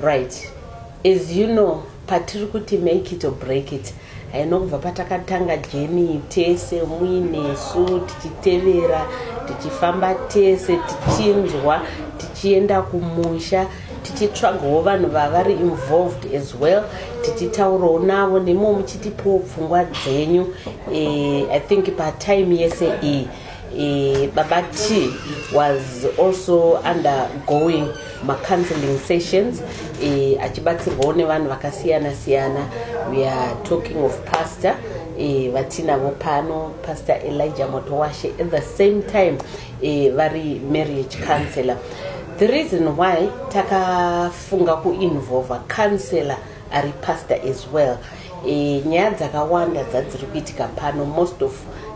Right. As you know, patiri kuti make it or break it haino kubva patakatanga jeni tese muinesu tichitevera tichifamba tese tichinzwa tichienda kumusha tichitsvagawo vanhu vavari involved as well tichitaurawo navo nemo muchitipowo pfungwa dzenyu e, i think patime yese iyi e, Eh, baba t was also undergoing macounseling sessions eh, achibatsirwawo nevanhu vakasiyana siyana we are talking of pastor eh, vatinavo pano pastor elijah motowashe at the same time eh, vari marriage counselor the reason why takafunga kuinvolva counselor ari pastor as well e, nyaya dzakawanda dzadziri kuitika pano most of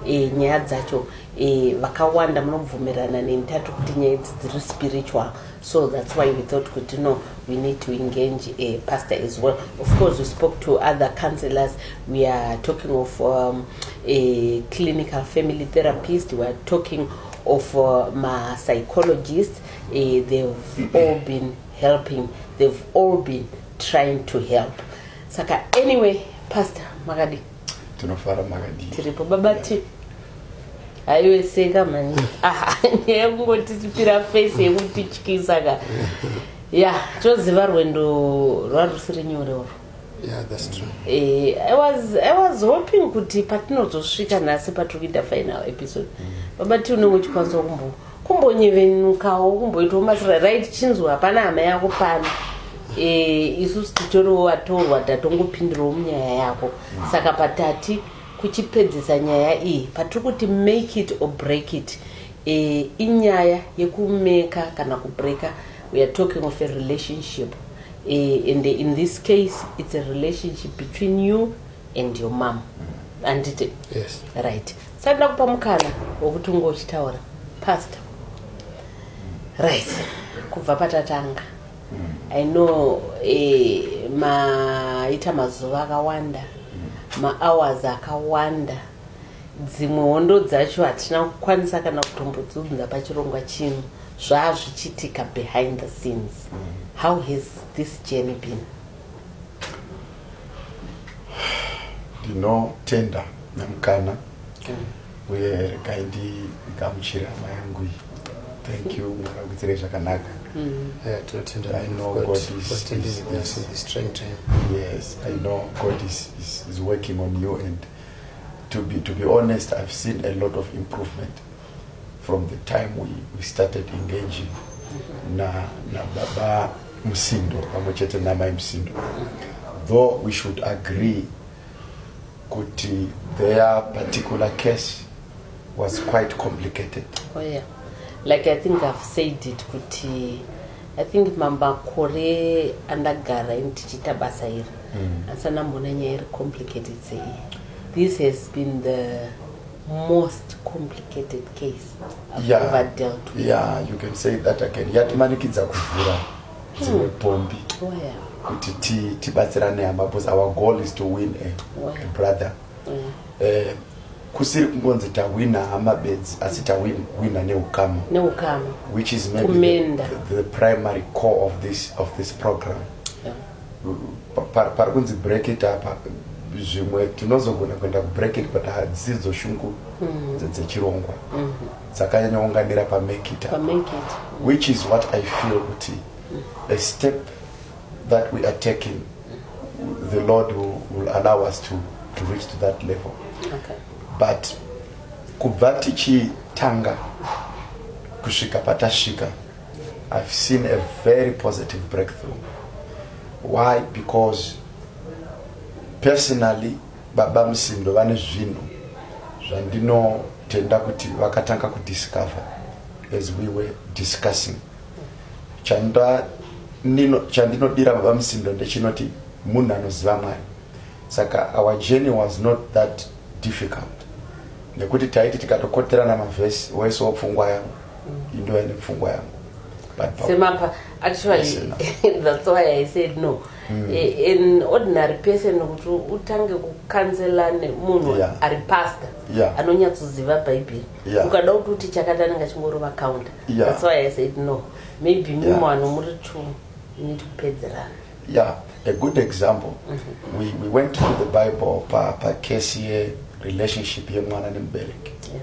e, nyaya dzacho e, vakawanda e, munobvumirana neni tati kuti nyaya idzi dziri spiritual so that's why we thought kuti no we need to engage a pastor as well of course we spoke to other counselors we are talking of um, a clinical family therapist we are talking of uh, ma psychologists uh, they've all been helping they've all been trying to help saka anyway pastor makadi tinofara makadi tiripo baba t haiwe seka mani ah, nyaya yekungoti tipira face yekuti tyisa ka ya toziva rwendo rwarusiri nyore uru Yeah, that's true. Eh, I was I was hoping kuti patinozosvika nhasi patiri kuita final episode. Mm. Baba ti unenge uchikwanisa kumbo kumbonyevenukawo kumboitawo masira right chinzwa hapana hama yako pano eh, isusu titoriwo vatorwa tatongopindirawo munyaya yako saka patati kuchipedzisa nyaya iyi patiri kuti make it or break it eh, inyaya yekumeka kana kubreaka weare talking of a relationship eh, and in this case it's a relationship between you and your mom andite yes. right Saka ndakupa mukana wekuti unge uchitaura pastor. Right. Kubva patatanga. I know eh, maita mazuva akawanda mahours akawanda dzimwe hondo dzacho hatina kukwanisa kana kutombodzunza pachirongwa chino zvaazvichitika behind the scenes how has this journey been ndinotenda nemukana uye regai ndigamuchire hama yangu iyi thank you makakuitirei zvakanaka mm. eh, tinotenda i know god yes i know god is, is, is working on you and to be, to be honest i've seen a lot of improvement From the time we, we started engaging na, na baba Musindo pamwe chete namai Musindo though we should agree kuti their particular case was quite complicated. Oh yeah. Like I think I've said it kuti I think mamakore andagara ini tichiita basa iri mm. asi anamboona nyaya iri complicated sei this has been the most complicated case I've yeah. ever dealt with. Yeah, you can say that again. Yatimanikidza kuvhura dzimwe hmm. pombi oh, kuti tibatsirane hama because our goal is to win a, oh, a brother eh, kusiri kungonzi tawina hama bedzi asi tawina neukama which is maybe the, the primary core of this, of this program yeah. pari kunzi bracket apa zvimwe tinozogona kuenda kubracket but hadzisi dzoshungu hmm. dzechirongwa hmm. dzakanyanyaunganira pamekita hmm. which is what i feel kuti a step that we are taking the lord will, will allow us to, to reach to that level okay. but kubva tichitanga kusvika patasvika I've seen a very positive breakthrough. Why? Because personally baba Musindo vane zvinhu zvandinotenda kuti vakatanga kudiscover as we were discussing. Chanda nino chandinodira baba Musindo ndechinoti munhu anoziva Mwari. Saka our journey was not that difficult. Nekuti taiti tikatokoterana mavhesi wese wopfungwa yangu ndova ine pfungwa yangu semapa actually that's why i said no mm. an ordinary person kuti utange kukanzela nemunhu yeah. ari pastor yeah. anonyatsoziva bhaibheri yeah. ukada kuti uti chakati anenge achingorova counter yeah. that's why i said no maybe yeah. mimo ano muri two need kupedzerana yeah a good example mm -hmm. we, we went to the bible pacase pa ye relationship yemwana nemubereki yeah.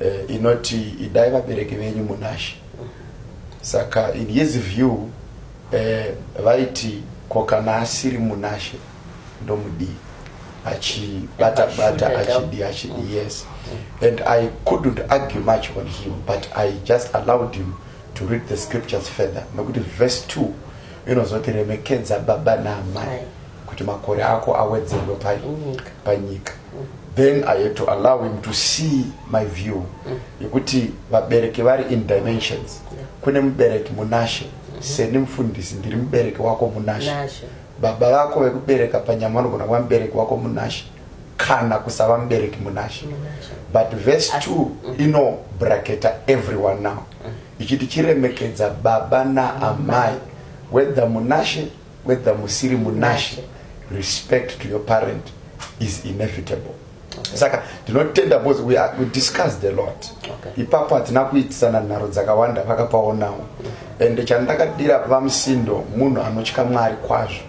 eh, inoti idai vabereki venyu munashe saka in his view eh, vaiti ko kana asiri munashe ndomudii achibatabata achidi achidi mm. yes mm. and i couldn't argue much on him but i just allowed him to read the scriptures further nekuti verse 2 inozoti remekedza baba naamai kuti makore ako awedzerwe panyika then i had to allow him to see my view mm. yekuti vabereki vari in dimensions kune mubereki munashe mm-hmm. seni mufundisi ndiri mubereki wako munashe baba vako vekubereka panyama vanogona kuva mubereki wako munashe kana kusava mubereki munashe but verse 2 mm-hmm. ino braketa everyone now mm. ichiti chiremekedza baba naamai mm-hmm. whether munashe whether musiri munashe respect to your parent is inevitable okay. saka ndinotenda because we, are, we discussed a lot okay. ipapo hatina kuitisana nharo dzakawanda vakapaonawo and chandakadira vamusindo munhu anotya mwari kwazvo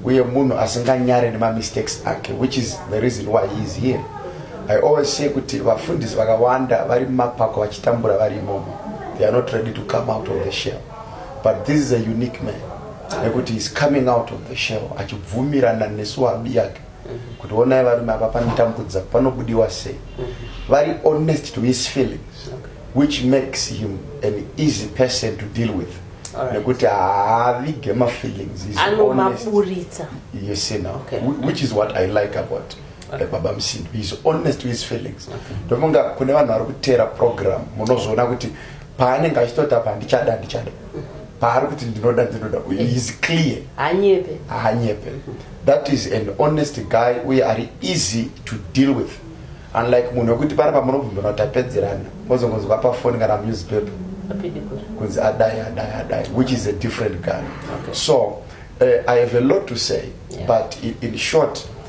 uye munhu asinganyare nemamistakes ake which is the reason why he is here i always say kuti vafundisi vakawanda vari mumapako vachitambura vari imomo they are not ready to come out of the shell but this is a unique man nekuti is coming out of the shell achibvumirana nesu abi yake kuti onai varume apa panotambudza panobudiwa sei vari honest to his feelings which makes him an easy person to deal with nekuti haavige mafeelings anomaburitsa yes no okay. which is what i like about eh, baba msindo is honest to his feelings ndofunga kune vanhu vari kuteera program munozoona kuti paanenge achitoti apa ndichada ndichada paari kuti ndinoda ndinoda is clear hanyepe hanyepe that is an honest guy uye ari easy to deal with unlike munhu wekuti pari pamunobvumbira kuti apedzerana mozongonzwa pafoni kana newspaper kunzi adai adai adai which is a different guy okay. so uh, i have a lot to say yeah. but in, in short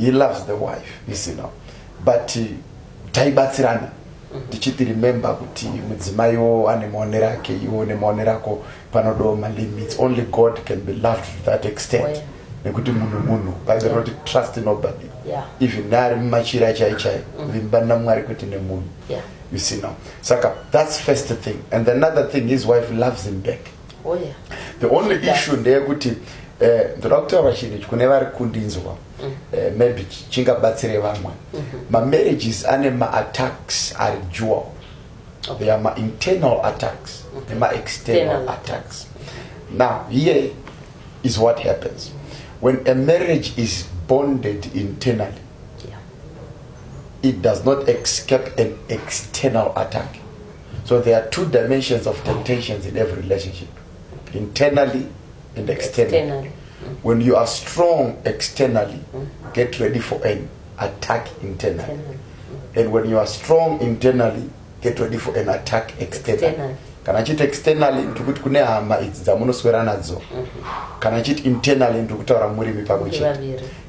he loves the wife you see now but uh, taibatsirana tichiti remember kuti mudzimai wo ane maonero ake iwo nemaonero ako panodawo malimits only god can be loved to that extent oh, yeah. nekuti munhu munhu bhaibheri roti yeah. trust nobody yeah. even naari mumachira chai chai mm. vimba namwari kwete nemunhu yeah. you see now saka that's first thing and another thing his wife loves him back oh, yeah. the only That's... issue ndeyekuti eh, ndoda uh, kutaura chinhu ichi kune vari kundinzwa mm. eh, maybe chingabatsire vamwe mm -hmm. mamarriages ane maatax ari jewel okay. they are mainternal attacks okay. Mm-hmm. nemaexternal attacks now here is what happens when a marriage is bonded internally it does not escape an external attack. So there are two dimensions of temptations in every relationship, internally and externally. externally. When you are strong externally, mm. get ready for an attack internally. internally. And when you are strong internally, get ready for an attack externally. externally. kana achiti externally ndikuti kune hama idzi dzamunoswera nadzo mm-hmm. kana achiti internally ndikutaura murimi pamwe chete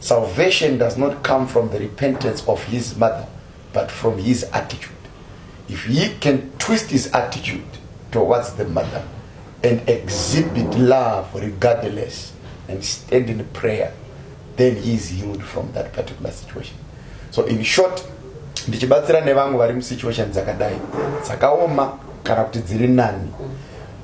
Salvation does not come from the repentance of his mother but from his attitude. If he can twist his attitude towards the mother and exhibit love regardless and stand in prayer then he is healed from that particular situation. So in short, ndichibatsira nevamwe vari musituation dzakadai dzakaoma kana kuti dziri nani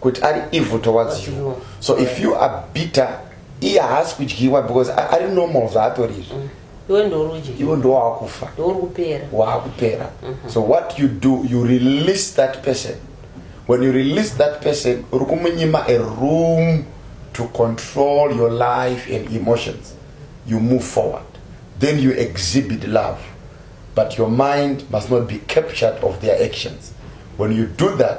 kuti ari evil towards you so if you are bitter iye haasi kudyiwa because ari normal zvaatori izvi mm. iwe ndorudyi iwe ndowaakufa ndouri kupera waakupera mhm. so what you do you release that person when you release that person uri kumunyima a room to control your life and emotions you move forward then you exhibit love but your mind must not be captured of their actions when you do that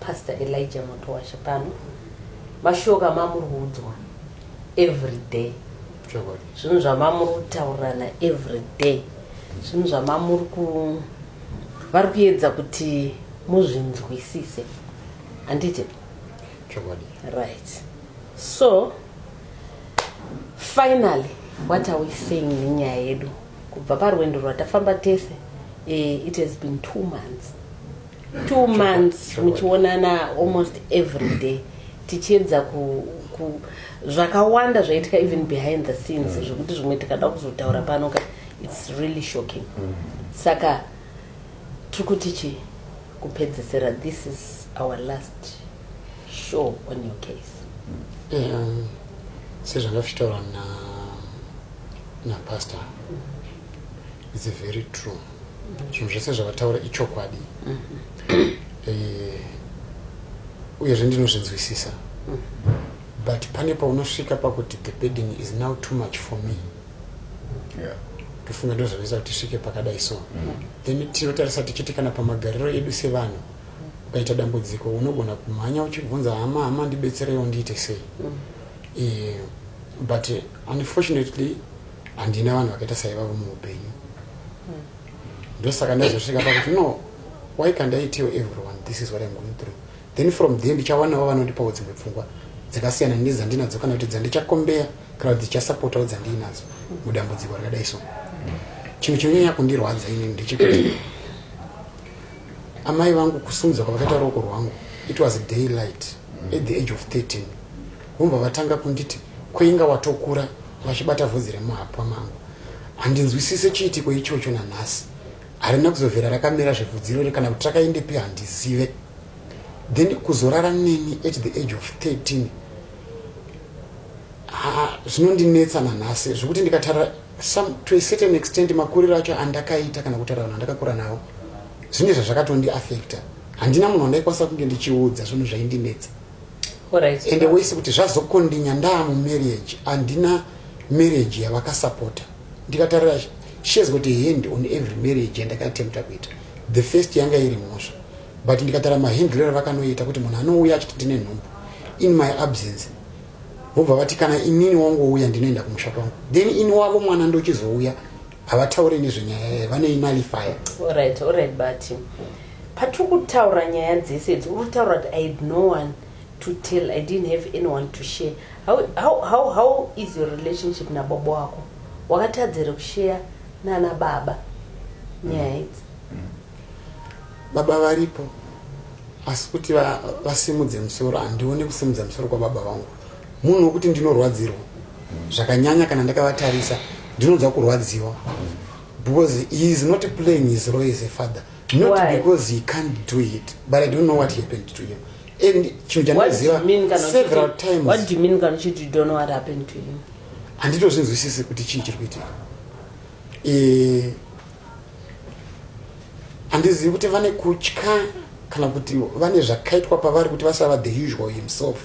Pastor Elijah Motowashe pano mashoko amamuri kuudzwa every day zvinhu zvamamuri kutaurirana every day zvinhu zvamamuri ku vari kuedza kuti muzvinzwisise handiti chokwadi right so finally what are we saying nenyaya yedu kubva parwendo rwatafamba tese eh, it has been two months two months muchionana almost every day tichiedza ku, ku zvakawanda zvaitika even behind the scenes mm. zvekuti zvimwe tikada kuzotaura pano ka its really shocking mm. saka tiri kuti chii kupedzesera this is our last show on your case um, sezvakafitaura na napastor mm -hmm. its very true zvinhu zvese zvavataura ichokwadi mm -hmm. eh, uyezve ndinozvinzwisisa mm -hmm. but pane paunosvika pakuti the bedding is now too much for me yeah tofunga ndo zvavisa kuti svike pakadai so mm. then tinotarisa tichiti kana pamagariro edu sevanhu ukaita dambudziko unogona kumhanya uchibvunza hama hama ndibetsereiwo ndiite sei mm. eh, but unfortunately handina vanhu vakaita saivavo muupenyu hmm. ndosaka ndazosvika pakuti no why can't i tell everyone this is what im going through then from there ndichawanawo vanondipawo dzimwe pfungwa dzakasiyana nedzandinadzo kana kuti dzandichakombeya kana kuti dzichasapotawo dzandiinadzo mudambudziko rakadai so chinhu chinonyanya kundirwadza inini ndechekuti amai vangu kusungidzwa kwavakaita ruoko rwangu it was daylight at the age of 13 Vobva vatanga kunditi kweinga watokura vachibata vhudzi remuhapwa mangu. Handinzwisise chiitiko ichocho nanhasi. Harina kuzovhera rakamera zvevhudzi irori kana kuti rakaendepi handizive. Then kuzorara neni at the age of 13 zvinondinetsa nanhasi zvekuti ndikatarira some to a certain extent makuriro acho andakaita kana kutaura vanhu andakakura navo zvine zvazvakatondi affecta handina munhu wandaikwanisa kunge ndichiudza zvinhu zvaindinetsa Alright. ende wese kuti zvazokondinya ndaamu marriage handina marriage yavakasapota ndikatarira she has got a hand on every marriage yandakatempta kuita the first yanga iri mhosva but ndikatara mahandler avakanoita kuti munhu anouya achiti ndine nhumbu in my absence vobva vati kana inini wangouya ndinoenda kumusha kwangu then ini wavo mwana ndochizouya havataure nezvenyaya yayo vane inalifaya orit orit but patiri kutaura nyaya dzese idzi uri kutaura kuti i had no one to tell i didn't have anyone to share how, how, how, how is your relationship nababa wako wakatadzere kusheya nana baba nyaya mm. idzi baba varipo asi kuti vasimudze musoro handione kusimudza musoro kwababa vangu munhu wekuti ndinorwadzirwa zvakanyanya kana ndakavatarisa ndinonzwa kurwadziwa because he is not playing his role as a father not Why? because he can't do it but i don't know what happened to him and chinhu chandinoziva several times what do you mean kana uchiti you don't know what happened to him handitozvinzwisisi kuti chii chiri kuitika eh, handizivi kuti vane kutya kana kuti vane zvakaitwa pavari kuti vasava the usual himself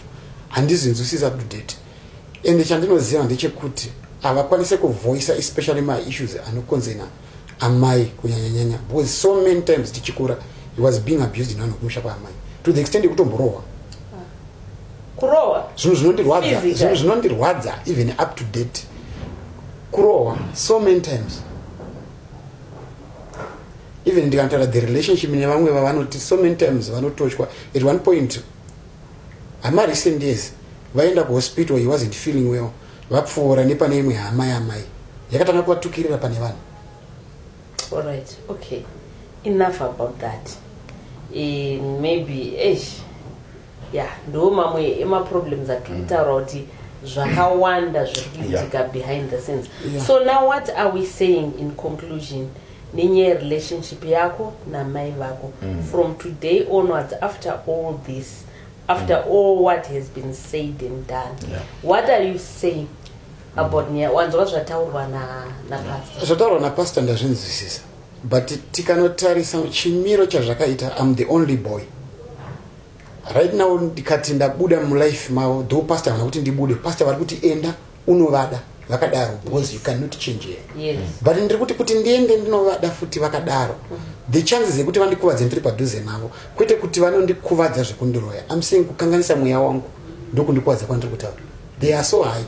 handizvinzwisisa kudate ende chandinoziva ndechekuti havakwanise kuvhoisa especially maissues anokonzena amai kunyanyanyanya because so many times tichikura he was being abused nevanhu kumusha kwaamai to the extent yekutomborohwa kurohwa zvinhu zvinondirwadza zvinhu zvinondirwadza even up to date kurohwa so many times even ndikanotaura the relationship nevamwe vavanoti so many times vanotochwa at one point hama recent years vaenda kuhospital he wasn't feeling well vapfuura nepane imwe hama yamai yakatanga kuvatukirira pane vanhu alright okay enough about that e, maybe eish Yeah, ndo mamwe ema problems atiri mm. kutaura kuti zvakawanda zviri kuitika behind the scenes. Yeah. So now what are we saying in conclusion? nenyaya yerelationship yako namai vako mm. from today onwards after all this after mm. all what has been said and done yeah. what are you saying about mm. nyaya wanzwa zvataurwa napasta zvataurwa napasta ndazvinzwisisa but tikanotarisa chimiro chazvakaita am the only boy right now ndikati ndabuda mulife mavo though pastor havana kuti ndibude pastor vari kuti enda unovada vakadaro because you cannot change here yes. but ndiri kuti kuti ndiende ndinovada futi vakadaro mm -hmm. the chances yekuti vandikuvadze ndiri padhuze navo kwete kuti vanondikuvadza zvekundiroya am saying kukanganisa mweya wangu ndokundikuvadza kwandiri kutaura they are so high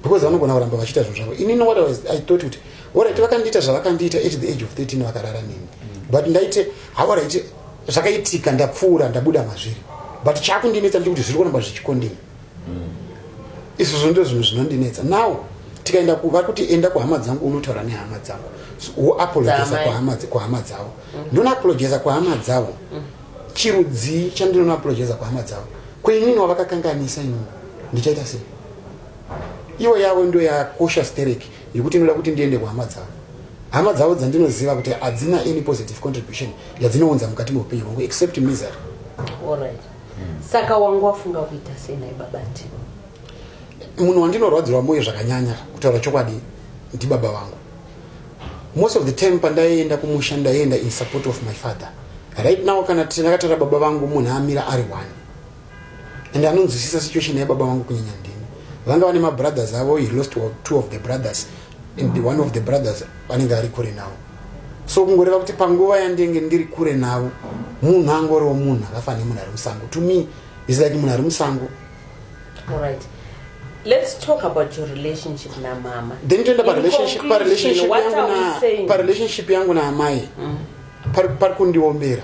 because vanogona kuramba vachiita zvinhu zvavo inini what was, i thought kuti orit vakandiita zvavakandiita at the age of 13 vakarara nini mm -hmm. but ndaite hawaraite zvakaitika ndapfuura ndabuda mazviri but chakundinetsa ndechekuti zviri kuramba zvichikondina mm. izvozvo ndo zvinhu zvinondinetsa now tikaenda kuvari kuti enda kuhama dzangu unotaura nehama dzangu woapologeza kuhama dzavo mm. ndonoapologeza kuhama dzavo mm. chirudzii chandinonoapologeza kuhama dzavo kwenini wavakakanganisa inini ndichaita sei ivo yavo ndo yakosha stereki yekuti inoda kuti ndiende kuhama dzavo hama dzavo dzandinoziva kuti hadzina any positive contribution yadzinounza mukati meupenyu hwangu except misery alright hmm. saka wangu wafunga kuita sei nai baba tivo munhu wandinorwadzirwa moyo zvakanyanya kutaura chokwadi ndibaba vangu most of the time pandaienda kumusha ndaienda in support of my father right now kana tinakatara baba vangu munhu amira ari one and anonzwisisa situation yababa vangu kunyanya ndini vanga vane mabrothers avo he lost two of the brothers and the one of the brothers vanenge ari kure navo so kungoreva kuti panguva yandenge ndiri kure navo munhu angoriwo munhu akafa nemunhu ari musango to me is like munhu ari musango Alright. Let's talk about your relationship na mama. Then toenda pa relationship pa relationship yangu na pa relationship yangu na amai. Mm. Par par kundiombera.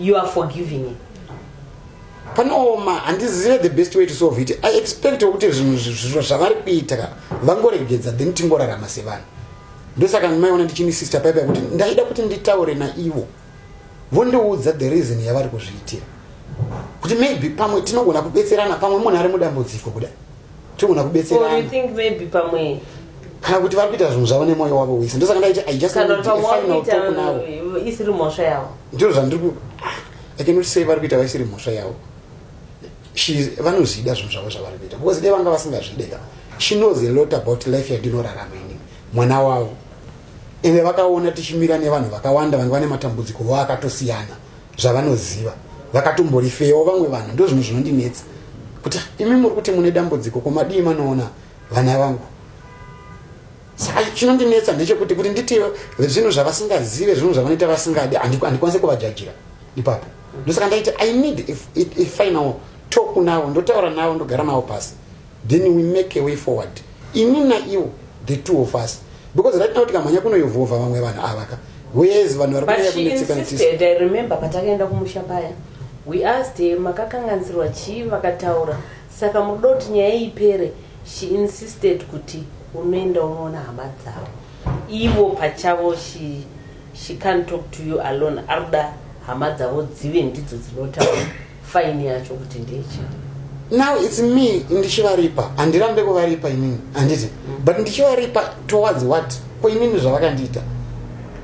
you are forgiving him panooma handizive the best way to solve it i expect kuti zvinhu zviro zvavari kuita ka vangoregedza then tingorarama sevanhu ndosaka maiona ndichini sister paipa kuti ndaida kuti nditaure naivo vondiudza the reason yavari kuzviitira kuti maybe pamwe tinogona kubetserana pamwe munhu ari mudambudziko kudai togona kubetserana kana kuti vari kuita zvinhu zvavo nemwoyo wavo wese ndosaka ndaiti i just final talk now eh, isiri mhosva yavo ndiro zvandiri ku ah, i cannot say vari kuita vaisiri mhosva yavo vanozvida zvinhu zvavo zvavari kuita because dai vanga vasingazvide ka she knows a lot about life yandinorarama ini mwana wavo ende vakaona tichimira nevanhu vakawanda vange vane matambudziko vo akatosiyana zvavanoziva vakatomborifeyawo vamwe vanhu ndo zvinhu zvinondinetsa kuti imi muri kuti mune dambudziko komadii manoona vana vangu saka chinondinetsa ndechekuti kuti nditi zvinhu zvavasingazive zvinhu zvavanoita vasingadi handikwanise kuvajajira ipapo ndosaka ndaiti i need a final talk navo ndotaura navo ndogara navo pasi then we make a way forward ini naiwo the two of us because right now tikamhanya kunoyovhovha vamwe vanhu ava ka wes vanhu vari kunyaya kunetsekanetiiremember patakaenda kumusha paya we asked her makakanganisirwa chii vakataura saka munoda kuti nyaya ipere she insisted kuti unoenda unoona hama dzavo ivo pachavo she, she can't talk to you alone arikuda hama dzavo dzive ndidzo dzinotaura fine yacho kuti ndeichii now its me ndichivaripa handirambe kuvaripa inini handiti mm. but ndichivaripa towards what ko inini zvavakandiita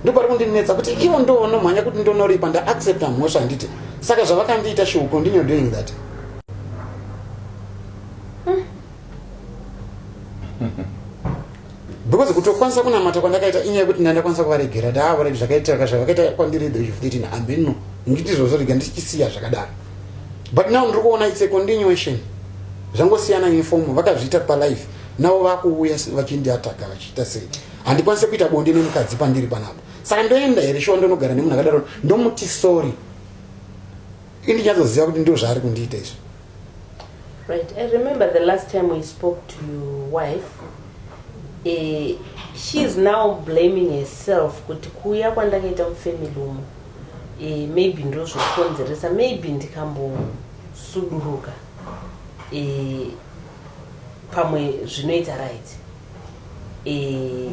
ndopari kundinetsa kuti ivo ndovonomhanya kuti ndonoripa ndaaccepta mhosva handiti saka zvavakandiita she will continue doing that because kutokwanisa kunamata kwandakaita inyaya yekuti ndai ndakwanisa kuvaregera ndaavaregi zvakaitika zvavakaita kwandiri the age of 13 ameno nditi zvozorega ndichisiya zvakadaro but now ndiri kuona its a continuation zvangosiyana uniform vakazviita palife navo vakuuya vachindiataka vachiita sei handikwanise kuita bonde nemukadzi pandiri panapa saka ndoenda here shuwa ndonogara nemunhu akadaro ndomuti sorry ini nyatsoziva kuti ndo zvaari kundiita izvi right i remember the last time we spoke to your wife uh, she is now blaming herself kuti kuuya kwandakaita mufamily umo uh, maybe ndozvokonzeresa maybe ndikambosuduruka uh, pamwe zvinoita right uh,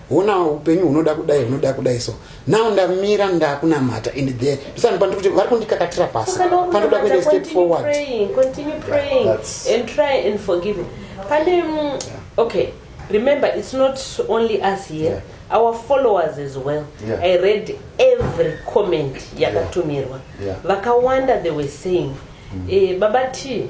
hona upenyu hunoda kudai hunoda kudai so now ndamira ndakunamata and there ndisani pandi kuti vari kundikakatira pasi pandoda kuenda step forward continue praying yeah, and try and forgive pane mm, yeah. okay remember it's not only us here yeah. our followers as well yeah. i read every comment yakatumirwa yeah. yeah. vakawanda they were saying mm. eh, baba t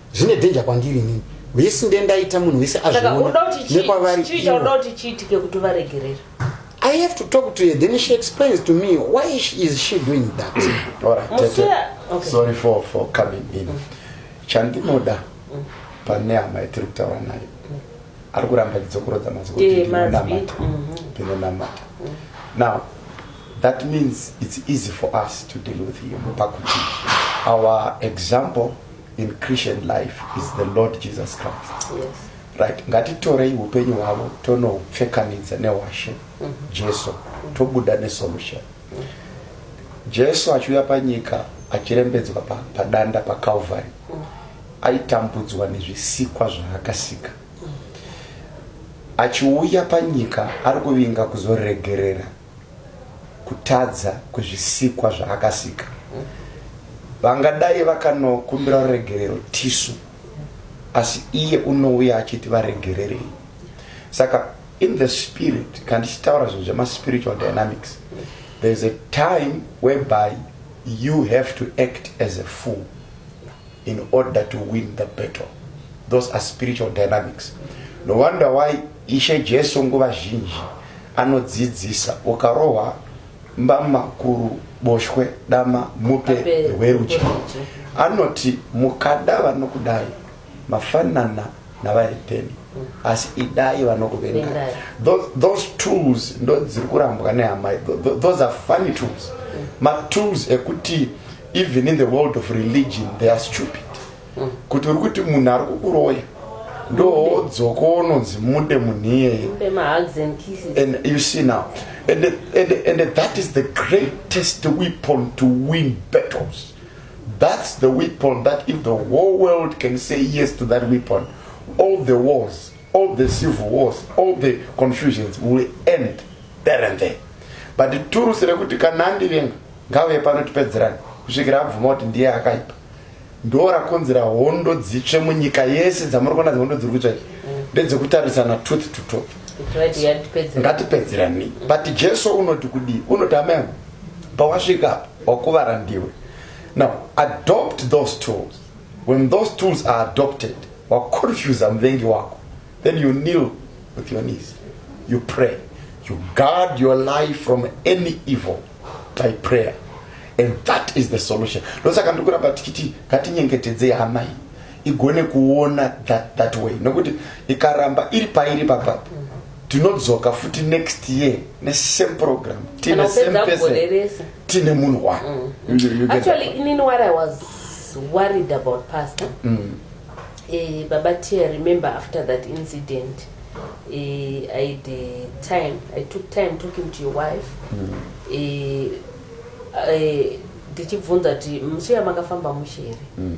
zvine danger kwandiri inini vese ndendaita munhu wese azvionekwavari I have to talk to her. Then she explains to me why is she doing that. All right, Tete. Okay. Sorry for for coming in. Mm. Chandinoda mm. pane hama yatiri kutaura nayo mm. ari kuramba chidzokorodza mazwi kuti eh, ndinonamata mm-hmm. ndinonamata mm. now that means it's easy for us to deal with him pakuti our example in Christian life is the Lord Jesus Christ. Yes. Right. Ngatitorei upenyu hwavo tonopfekanidza newashe mm -hmm. Jesu mm -hmm. tobuda nesolution. Mm -hmm. Jesu achiuya panyika achirembedzwa pa, padanda paCalvary mm -hmm. aitambudzwa nezvisikwa zvaakasika mm -hmm. achiuya panyika ari kuvinga kuzoregerera kutadza kwezvisikwa zvaakasika vangadai vakanokumbira ruregerero tisu asi iye unouya achiti varegererei saka in the spirit kandi chitaura zvinhu zvemaspiritual dynamics there's a time whereby you have to act as a fool in order to win the battle those are spiritual dynamics no wonder why ishe jesu nguva zhinji anodzidzisa ukarohwa mbama kuru boshwe dama mupe rwerudyi anoti mukada vanokudai mafanana navari pembi asi idai vanokuvenga those tools ndo dziri kurambwa nehamai those are funny tools mm. matools ekuti even in the world of religion they are stupid mm. kuti uri kuti munhu ari kukuroya ndowodzoko unonzi mude munhu iyeye and you see now and, and, and that is the greatest weapon to win battles That's the weapon that if the whole world can say yes to that weapon, all the wars, all the civil wars, all the confusions will end there and there. But the turusi rekuti kana andivenga ngave pano tipedzerane kusvikira abvuma kuti ndiye akaipa ndo rakonzera hondo dzitsve munyika yese dzamuri kuona dzehondo dziri kutsva ndedzekutarisana tooth to tooth ngatipedzerani but jesu unoti kudii unoti amai pawasvika apa wakuvara ndiwe now adopt those tools when those tools are adopted waconfusa muvengi wako then you kneel with your knees you pray you guard your life from any evil by prayer and that is the solution ndosaka ndiri kuramba tichiti ngatinyengetedzei amai igone kuona that, that way nokuti ikaramba iri pairi papa tinodzoka futi next year nesame program tine same person tine munhu wa mm. actually inini what i was worried about pastor mm. eh, baba tia remember after that incident eh, i the time i took time talking to your wife mm. eh, eh, ndichibvunza kuti musi yamakafamba mushe here mm.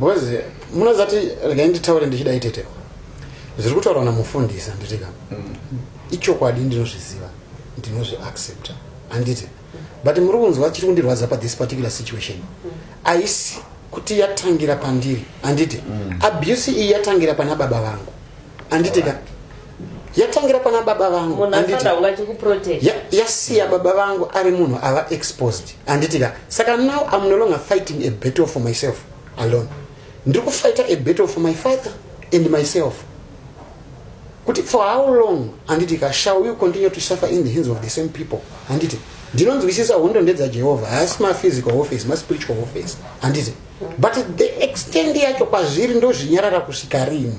Boys, munozati regai nditaure ndichida itete. Zviri kutaurwa namufundisi handitika. Mm. Ichokwadi ndinozviziva, ndinozvi accepta. Handiti? But muri kunzwa chiri kundirwadza pa this particular situation. Mm. Aisi kuti yatangira pandiri, handiti? Mm. Abuse iyi yatangira pana baba vangu. Handitika? Right. yatangira pana baba vangu yasiya baba vangu ari munhu ava exposed anditika saka now am no longer fighting a battle for myself alone ndiri kufighta a battle for my father and myself kuti for how long anditika shall you continue to suffer in the hands of the same people anditi ndinonzwisisa hondo ndedzajehovha haasi maphysical office maspiritual office anditi but the extend yacho kwazviri ndozvinyarara kusvika rini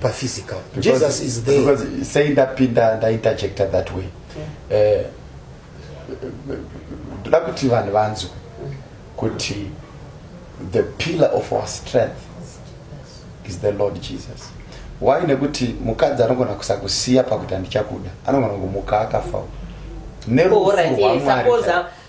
pa physical jesus is there because saying that pinda nda interjecta that way eh ndoda kuti vanhu vanzwe kuti the pillar of our strength is the lord jesus why nekuti mukadzi anogona kusakusiya pakuti handichakuda anogona kumuka akafa nerufu rwamwari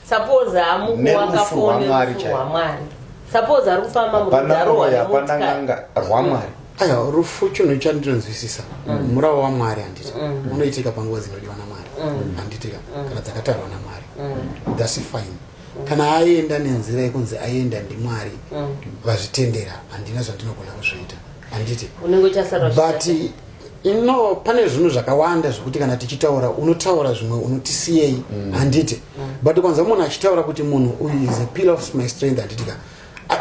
suppose hamukuwaka foni rwamwari suppose ari kufamba murudarohapanaanga rwamwari aiwa rufu chinhu chandinonzwisisa mm. murawo wamwari handiti mm. unoitika panguva dzinodiwa namwari mm. handitika kana dzakatarwa namwari thats fine kana aenda nenzira yekunzi aenda ndimwari vazvitendera handina zvandinogona kuzviita handiti but ino pane zvinhu zvakawanda zvekuti kana tichitaura unotaura zvimwe unotisiyei mm. handiti mm. but kwanza munhu achitaura kuti munhu uyu is a pill of my strength handiti ka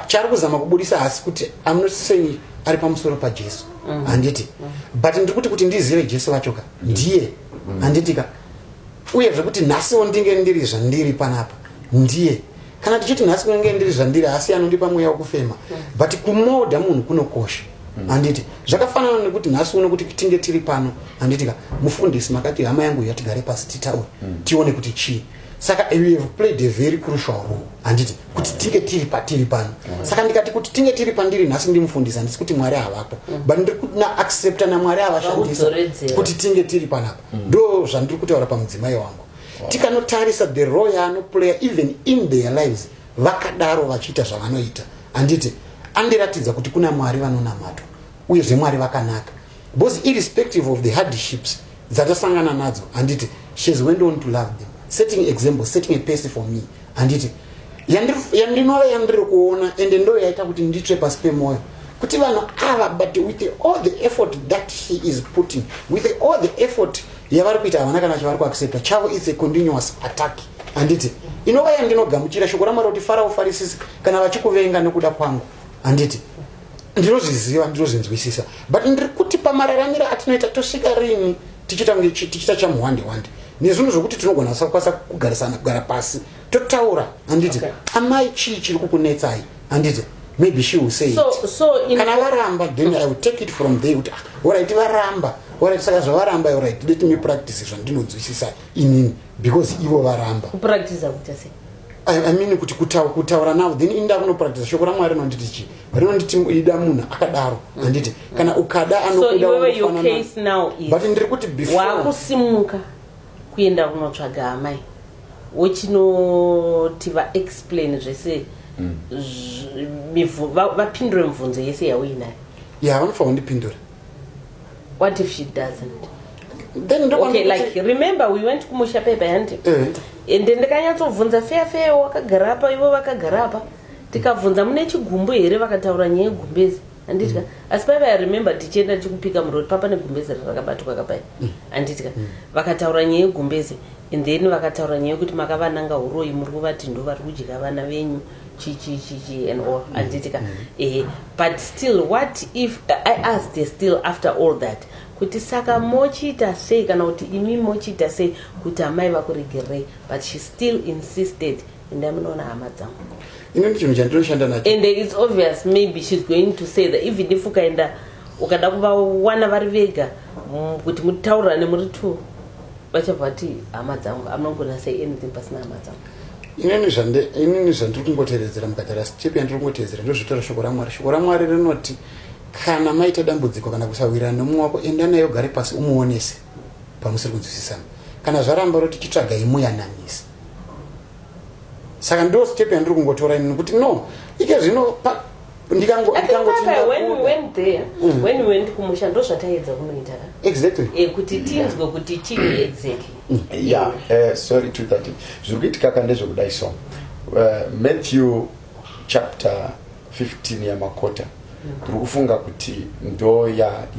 chaari kuzama kubudisa hasi kuti am not saying ari pamusoro pajesu mm. handiti but ndiri kuti kuti ndizive jesu vacho ka ndiye handiti ka uye zvekuti nhasiwo ndinge ndiri zvandiri panapa ndiye kana tichiti nhasi kunenge ndiri zvandiri asi anondipa mweya wekufema mm. but kumoda munhu kunokosha mm. handiti zvakafanana nekuti nhasi uno kuti tinge tiri pano handiti ka mufundisi makati hama yangu iya tigare pasi titaure mm. tione kuti chii saka we have played a very crucial role handiti kuti tinge tiri patiri pano saka ndikati kuti tinge tiri pandiri nhasi ndimufundisi handisi kuti mwari havapo but ndiri kutina accepta namwari avashandisa kuti tinge tiri panapa ndo zvandiri kutaura pamudzimai wangu tikanotarisa the role yaanoplayer even in their lives vakadaro vachiita zvavanoita handiti andiratidza kuti kuna mwari vanonamatwa uye zvemwari vakanaka because irrespective of the hardships dzatasangana nadzo handiti shes went on to love them setting example setting a pace for me handiti yandinove yandiri kuona ende ndo yaita kuti nditsve pasi pemwoyo kuti vanhu ava but with all the effort that he is putting with all the effort yavari kuita havana kana chavari kuaccepta chavo its a continuous attack handiti inova yandinogamuchira shoko ramwari kuti fara ufarisisi kana vachikuvenga nekuda kwangu handiti ndinozviziva ndinozvinzwisisa but ndiri kuti pamararamiro atinoita tosvika rini tichiita kunge tichiita chamuhwande hwande nezvinhu zvokuti tinogona sakwanisa kugarisana kugara pasi totaura handiti okay. amai chii chiri kukunetsai handiti maybe she will say so, it. So in kana varamba then i will take it from there kuti ah, orit varamba orit saka zvavaramba orit let me practice zvandinonzwisisa inini because ivo varamba kupractice kuita sei I, I mean kuti kutaura now then inda kunopractice shoko ramwari rinonditi chii rinonditi ida munhu akadaro handiti mm. kana ukada anokudaut ndiri kuti wakusimuka kuenda kunotsvaga amai wochinoti vaexplain zvese mm. vapindure mibvunzo yese yauinayo ya vanofanira kundipindura what if she doesn't then okay, like remember we went kumusha pepa handi eh. ende ndikanyatsobvunza feya feya wakagara apa ivo vakagara apa mm. ndikabvunza mune chigumbu here vakataura nyaya yegumbezi anditya mm. asi paiva yaremember tichienda tichikupika muroti papa negumbezi rakabatwa kapai mm. anditya mm. vakataura nyaya yegumbezi and then vakataura nyaya yekuti makavananga uroyi muri kuvati ndo vari kudya vana venyu chichichichi and all mm. anditya mm. eh, but still what if i asked still after all that kuti saka mochiita sei kana kuti imi mochiita sei kuti amai vakuregerei but she still insisted enda munoona hama dzangu ini ndichinhu chandinoshanda nacho and its obvious maybe shes going to say that even if ukaenda ukada kuvawana vari vega mm, kuti mutaurirane muri two vachabva vati hama dzangu amnogona say anything pasina hama dzangu inini zvandiri kungotevedzera mukati rastep yandiri kungotevedzera ndozvitora shoko ramwari shoko ramwari rinoti kana maita dambudziko kana kusawirana nomumwe wako enda naye ugare pasi umuonese pamusiri kunzwisisana kana zvaramba roti titsvaga imuyananisi saka ndo step yandiri kungotora ini nokuti no ike zvino ndikangotindikumusha ndo zvataedza kunoita exactly eh, kuti tinzwe kuti chii exactly mm. ya eh, sorry to that zviri kuitika ka ndezvekudai so eh, matthew chapter 15 yamakota ndiri kufunga kuti ndo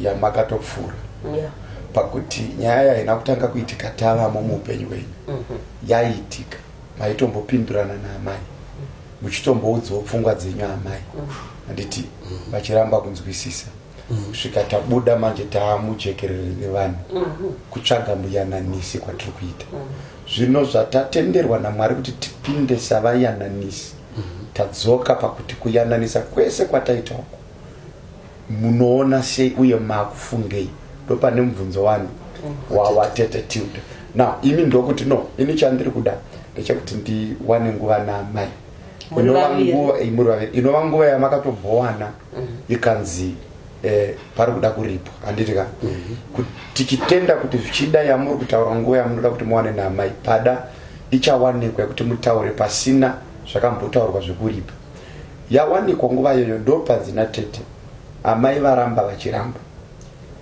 yamakatopfuura yeah. pakuti nyaya yaina kutanga kuitika tavamo muupenyu wenyu mm -hmm. yaiitika maitombopindurana naamai mhm. muchitomboudzawo pfungwa dzenyu amai mhm. handiti mm -hmm. vachiramba kunzwisisa mhm. kusvika mm -hmm. tabuda manje taamujekerere nevanhu mm -hmm. kutsvaga muyananisi kwatiri kuita mm -hmm. zvino zvatatenderwa namwari kuti tipinde savayananisi tadzoka pakuti kuyananisa kwese kwataita uku munoona sei uye makufungei ndopane mubvunzo wani wawatete tilde now imi ndokuti no ini chandiri kuda ndechekuti ndiwane nguva namai inova nguva yamakatobhowana ikanzi eh, pari kuda kuripwa handiti ka Kuti tichitenda kuti zvichida yamuri kutaura nguva yamunoda kuti muwane naamai pada ichawanikwa yekuti mutaure pasina zvakambotaurwa zvekuripa yawanikwa nguva iyoyo ndopanzi natete amai varamba vachiramba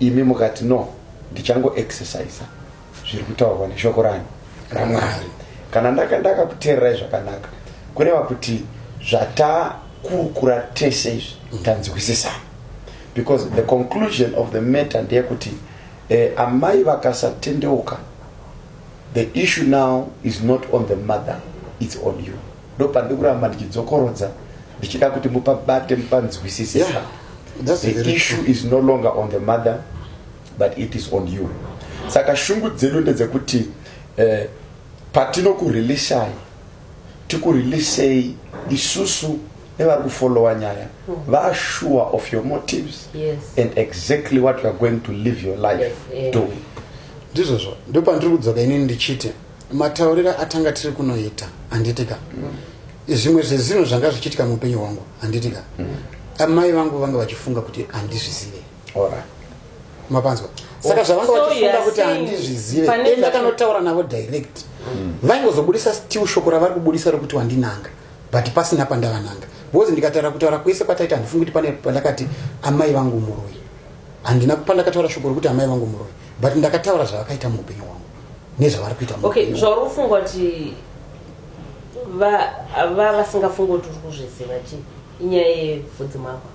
imi mukati no ndichango exercisa zviri kutaurwa neshoko rani ramwari kana ndakakuteererai zvakanaka kureva kuti zvatakurukura tese izvi mm. tanzwisisana because the conclusion of the matter ndeyekuti eh, amai vakasatendeuka the issue now is not on the mother its on you ndopandi kuramba ndichidzokorodza ndichida kuti mupabate mupanzwisisisa yeah, the issue is no longer on the mother but it is on you saka shungu dzedu ndedzekuti eh, patinokurelishai tikurelishei isusu nevari kufollowa nyaya hmm. vasure of your motives yes. and exactly what youare going to live your life yes, yeah. do ndizvozvo ndo pandiri kudzoka ini ndichiti mataurira atanga tiri kunoita handitika mm. zvimwe zvezvinhu zvanga zvichiitika muupenyu hwangu handitika mm. amai vangu vanga vachifunga kuti handizvizive ora mapanzwa saka zvavanga vachifunga kuti handizvizive e ndakanotaura navo direct mm. vaingozobudisa still shoko ravari kubudisa rokuti wandinanga but pasina pandavananga because ndikataura kutaura kwese kwataita handifungi kuti pane pandakati amai vangu muroi handina pandakataura shoko rokuti amai vangu muroi but ndakataura zvavakaita muupenyu hwangu nezvavari kuita okay zvauri kufunga kuti va vasingafungi kuti uri kuzviziva chii inyaya yevhudzi mako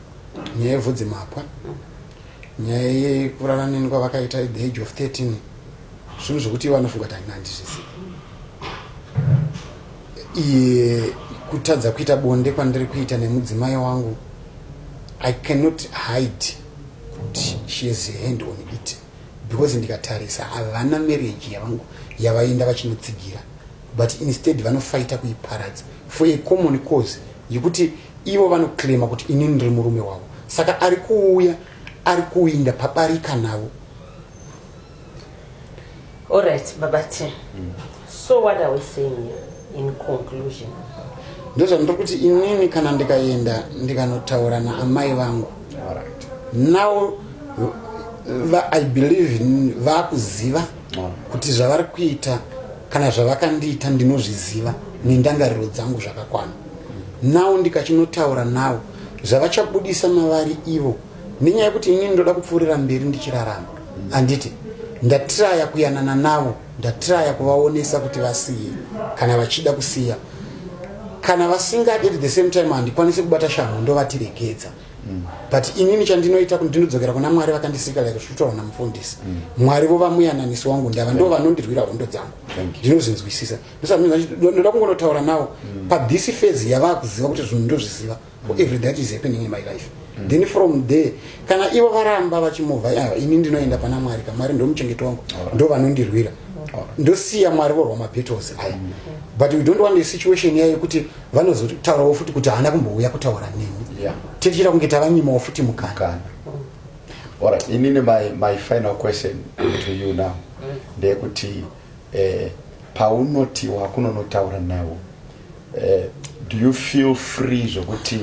nyaya yevhudzimapwa nyaya yekurana neni kwavakaita the age of 13 zvinhu zvekuti ivo anofunga kuti handina handizvizivi iye kutadza kuita bonde kwandiri kuita nemudzimai wangu i cannot hide kuti she is a hand on it because ndikatarisa havana marriage yavangu yavaenda vachinotsigira but instead vanofaita kuiparadza for a common cause yekuti Ivo vanoclaima kuti ini ndiri murume wavo, saka ari kuuya ari kuinda pabarika navo. All right, Baba T. Mm. So what are we saying here in conclusion? Ndozvandiri kuti inini kana ndikaenda ndikanotaura naamai vangu. All right. Now va, I believe vakuziva kuti zvavari kuita kana zvavakandiita ndinozviziva nendangariro dzangu zvakakwana nawo ndikachinotaura nawo zvavachabudisa mavari ivo nenyaya yekuti inini ndoda kupfuurira mberi ndichirarama handiti ndatiraya kuyanana navo ndatiraya kuvaonesa kuti vasiye kana vachida kusiya kana vasingadi at the same time handikwanisi kubata shamhu ndovatiregedza Mm. but inini chandinoita kuti ndinodzokera kuna mwari vakandisika like zvikutaura namufundisi mm. mwari vo vamuyananisi wangu ndava ndo vanondirwira hondo dzangu ndinozvinzwisisa ndoda kungonotaura nawo mm. pathis phase yavaa kuziva kuti zvinhu ndozviziva for every that is happening in my life then from there kana ivo varamba vachimovha ah, ini ndinoenda pana mwari ka mwari ndomuchengeto wangu ndo vanondirwira ndosiya mwari vorwa mabattles aya but we don't want a situation yayo kuti vanozotaurawo futi kuti haana kumbouya kutaura nemi yeah. tichita kunge tavanyimawo futi mukana Alright, inini my, my final question to you now mm. ndeyekuti eh, paunoti wakunonotaura nawo eh, do you feel free zvekuti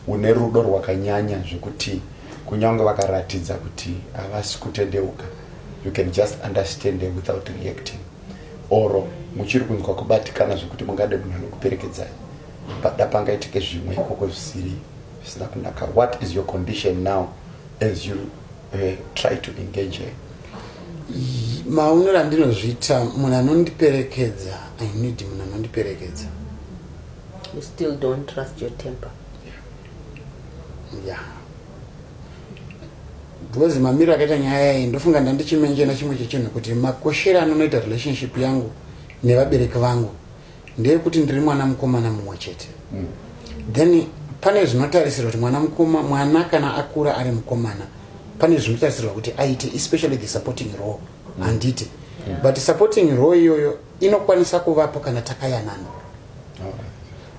une rudo rwakanyanya zvekuti kunyange vakaratidza kuti havasi kutendeuka you can just understand them without reacting or muchiri kunzwa kubatikana zvekuti mungade munhu anokuperekedzai pada pangaitike zvimwe ikoko zvisiri zvisina kunaka what is your condition now as you uh, try to engage her maonero andinozviita munhu anondiperekedza i need munhu anondiperekedza you still don't trust your temper yeah, yeah. because mamiro akaita nyaya iyi ndofunga ndandichimenjena chimwe chechinhu kuti makoshere anonoita relationship yangu nevabereki vangu ndeyekuti ndiri mwana mukomana mumwe chete mm. then pane zvinotarisirwa kuti mwana mukoma mwana kana akura ari mukomana pane zvinotarisirwa kuti aite especially the supporting role mm. handiti mm. but supporting role iyoyo inokwanisa kuvapo kana takayanana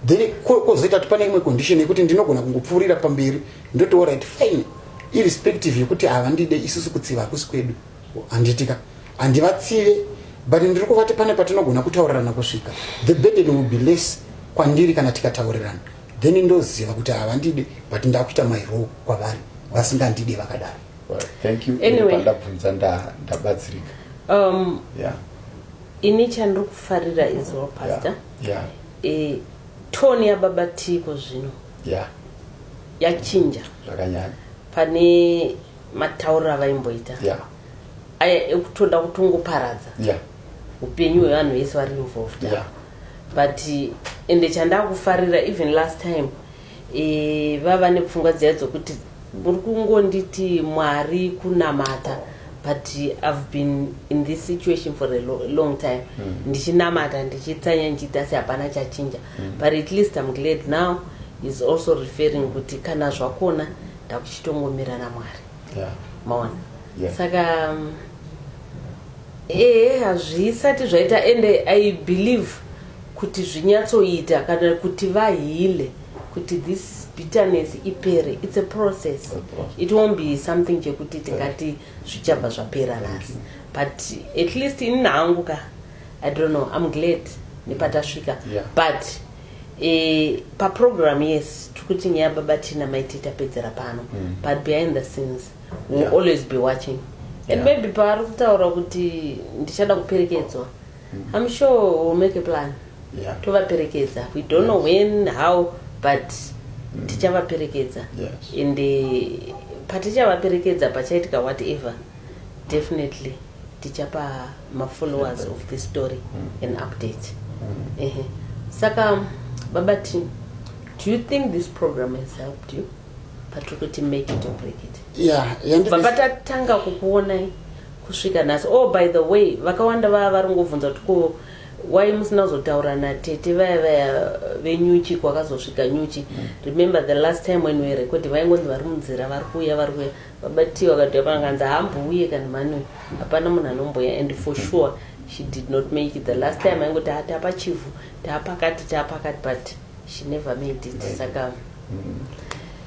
then kozoita kuti pane imwe condition yekuti ndinogona kungopfuurira pamberi ndoti orit fine irrespective yekuti havandide isusu kutsiva hakusi kwedu handitika handivatsive but ndiri kuvati pane patinogona kutaurirana kusvika the burden will be less kwandiri kana tikataurirana then ndoziva kuti havandide but ndakuita mairo kwavari vasingandide vakadaro thank you anyway ndabvunza ndabatsirika um yeah ini chandiri kufarira is well pastor yeah, yeah. Eh, tone yababa tiko zvino yeah yachinja zvakanyanya pane matauriro avaimboita yeah aya ekutoda kutongoparadza yeah upenyu hwevanhu vese vari involved yeah but ende chandakufarira even last time e, vava nepfungwa dziya dzokuti muri kungonditi mwari kunamata but i've been in this situation for a lo long time mm. ndichinamata ndichitsanya ndichiita asi hapana chachinja mm. but at least im glad now is also referring kuti kana zvakona ndakuchitongomira namwari yeah. maona yeah. saka um, ee hazvisati zvaita ende i believe kuti zvinyatsoita kana kuti vahile kuti this bitterness ipere its a process it won't be something chekuti tingati zvichabva zvapera nhasi but at least ini nangu ka i don't know im glad nepatasvika but e, paprogram yes tiri kuti nyaya baba tina maiti tapedzera pano mm. but behind the scenes will yeah. always be watching and yeah. maybe paari kutaura kuti ndichada kuperekedzwa I'm sure we'll make a plan yeah. tovaperekedza we don't know when how but mm. tichavaperekedza yes. and uh, patichavaperekedza pachaitika whatever definitely tichapa mafollowers of this story mm. an update mm. uh -huh. saka baba t do you think this program has helped you patiri kuti make it or break it yeah, baba tatanga kukuonai kusvika nhasi oh by the way vakawanda vava vari ngovhunza kuti ko why musina kuzotaura natete vaya vaya venyuchi kwakazosvika nyuchi mm. remember the last time when we record vaingonzi vari munzira vari kuuya vari kuya vabati vakati vakanganzi haambouye kana mani hapana munhu anomboya and for sure she did not make it the last time aingoti haa ah, tapachivhu taapakati taapakati but she never made it saka mm.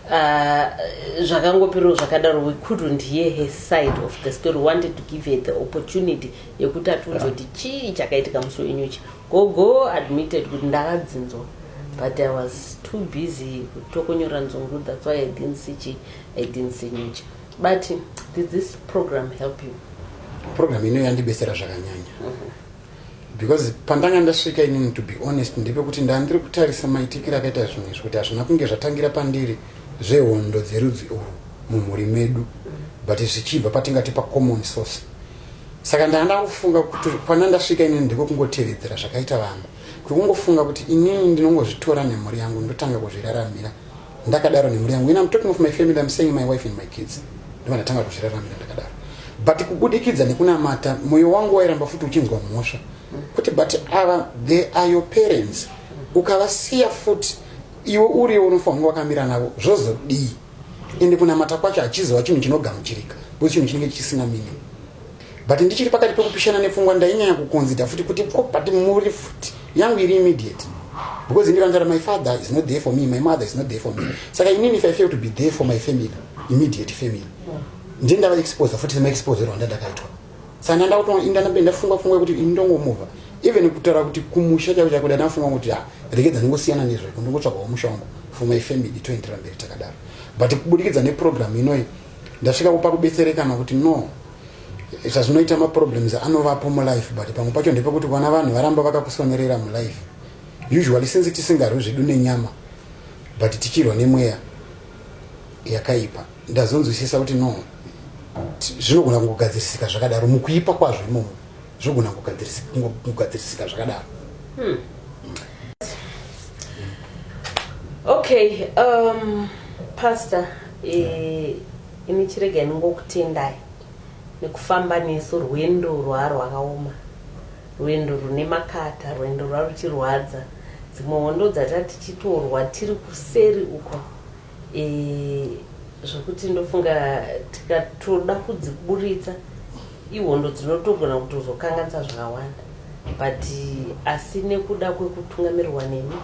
uh, zvakangopirwo zvakadaro we couldn't hear her side of the story wanted to give her the opportunity yekuti atiunze kuti chii chakaitika musi wenyuchi gogo admitted kuti ndakadzinzwa but i was too busy kutokunyora nzungu that's why i didn't see chi i didn't see nyuchi but did this program help you program ino yandibesera zvakanyanya mm -hmm. because pandanga ndasvika inini to be honest ndepekuti ndandiri kutarisa maitikiro akaita zvinhu izvi kuti hazvina kunge zvatangira pandiri zvehondo dzerudzi urwu mumhuri medu but zvichibva patingati pacommon source saka ndanga ndakufunga kuti kwana ndasvika inini ndiko kungotevedzera zvakaita vanhu kwekungofunga kuti inini ndinongozvitora nemhuri yangu ndotanga kuzviraramira ndakadaro nemhuri yangu ina mtalking of my family am saying my wife and my kids ndivandatanga kuzviraramira ndakadaro but kubudikidza nekunamata mwoyo wangu wairamba futi uchinzwa mhosva kuti but ava they are your parents ukavasiya futi iwe uriwo unofanirwa wakamira navo zvozodii ende kunamata kwacho hachizova chinhu chinogamuchirika bcause chinhu chinenge chisina meaning but ndichiri pakati pekupishana nepfungwa ndainyanya kukonzida futi kuti ko but muri futi yangu iri immediate because ndikanzara my father is not there for me my mother is not there for me saka inini if i fail to be there for my family immediate family ndie ndava exposer futi semaexposer wanda ndakaitwa saka ndanda kutoindanambe ndafunga funga kuti ini ndongomuva even kutaura kuti kumusha chako chako ndandafunga kuti ha rekedza ndingosiyana nezvako ndingotsvagawo musha wangu for my family toenderera mberi takadaro but kubudikidza neprogramu inoyi ndasvika kupa kubetsereka nokuti no zvazvinoita maproblems anovapo mulife but pamwe pacho ndepekuti vana vanhu varamba vakakusonerera mulife usually since tisingarwi zvedu nenyama but tichirwa nemweya yakaipa ndazonzwisisa kuti no zvinogona kungogadzirisika zvakadaro mukuipa kwazvo imomo zvogona kugadzirisika zvakadaro hmm. okay um, pastor eh, ini chirega inongokutendai nekufamba nesu rwendo rwaa rwakaoma rwendo rune makata rwendo rwaa ruchirwadza dzimwe hondo dzata tichitorwa tiri kuseri uko Eh, zvokuti ndofunga tikatoda kudziburitsa ihondo dzinotogona kutozokanganisa zvakawanda but asi nekuda kwekutungamirwa nemi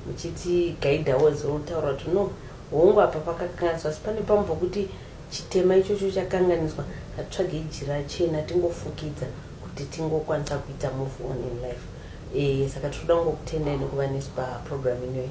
muchiti gaidha wese wotaura kuti no hongu apa pakakanganiswa asi pane pamwe pokuti chitema ichocho chakanganiswa hatitsvage ijira chena tingofukidza kuti tingokwanisa kuita move on in life e, saka tinoda kungokutendai nekuva nesu paprogramu inoyi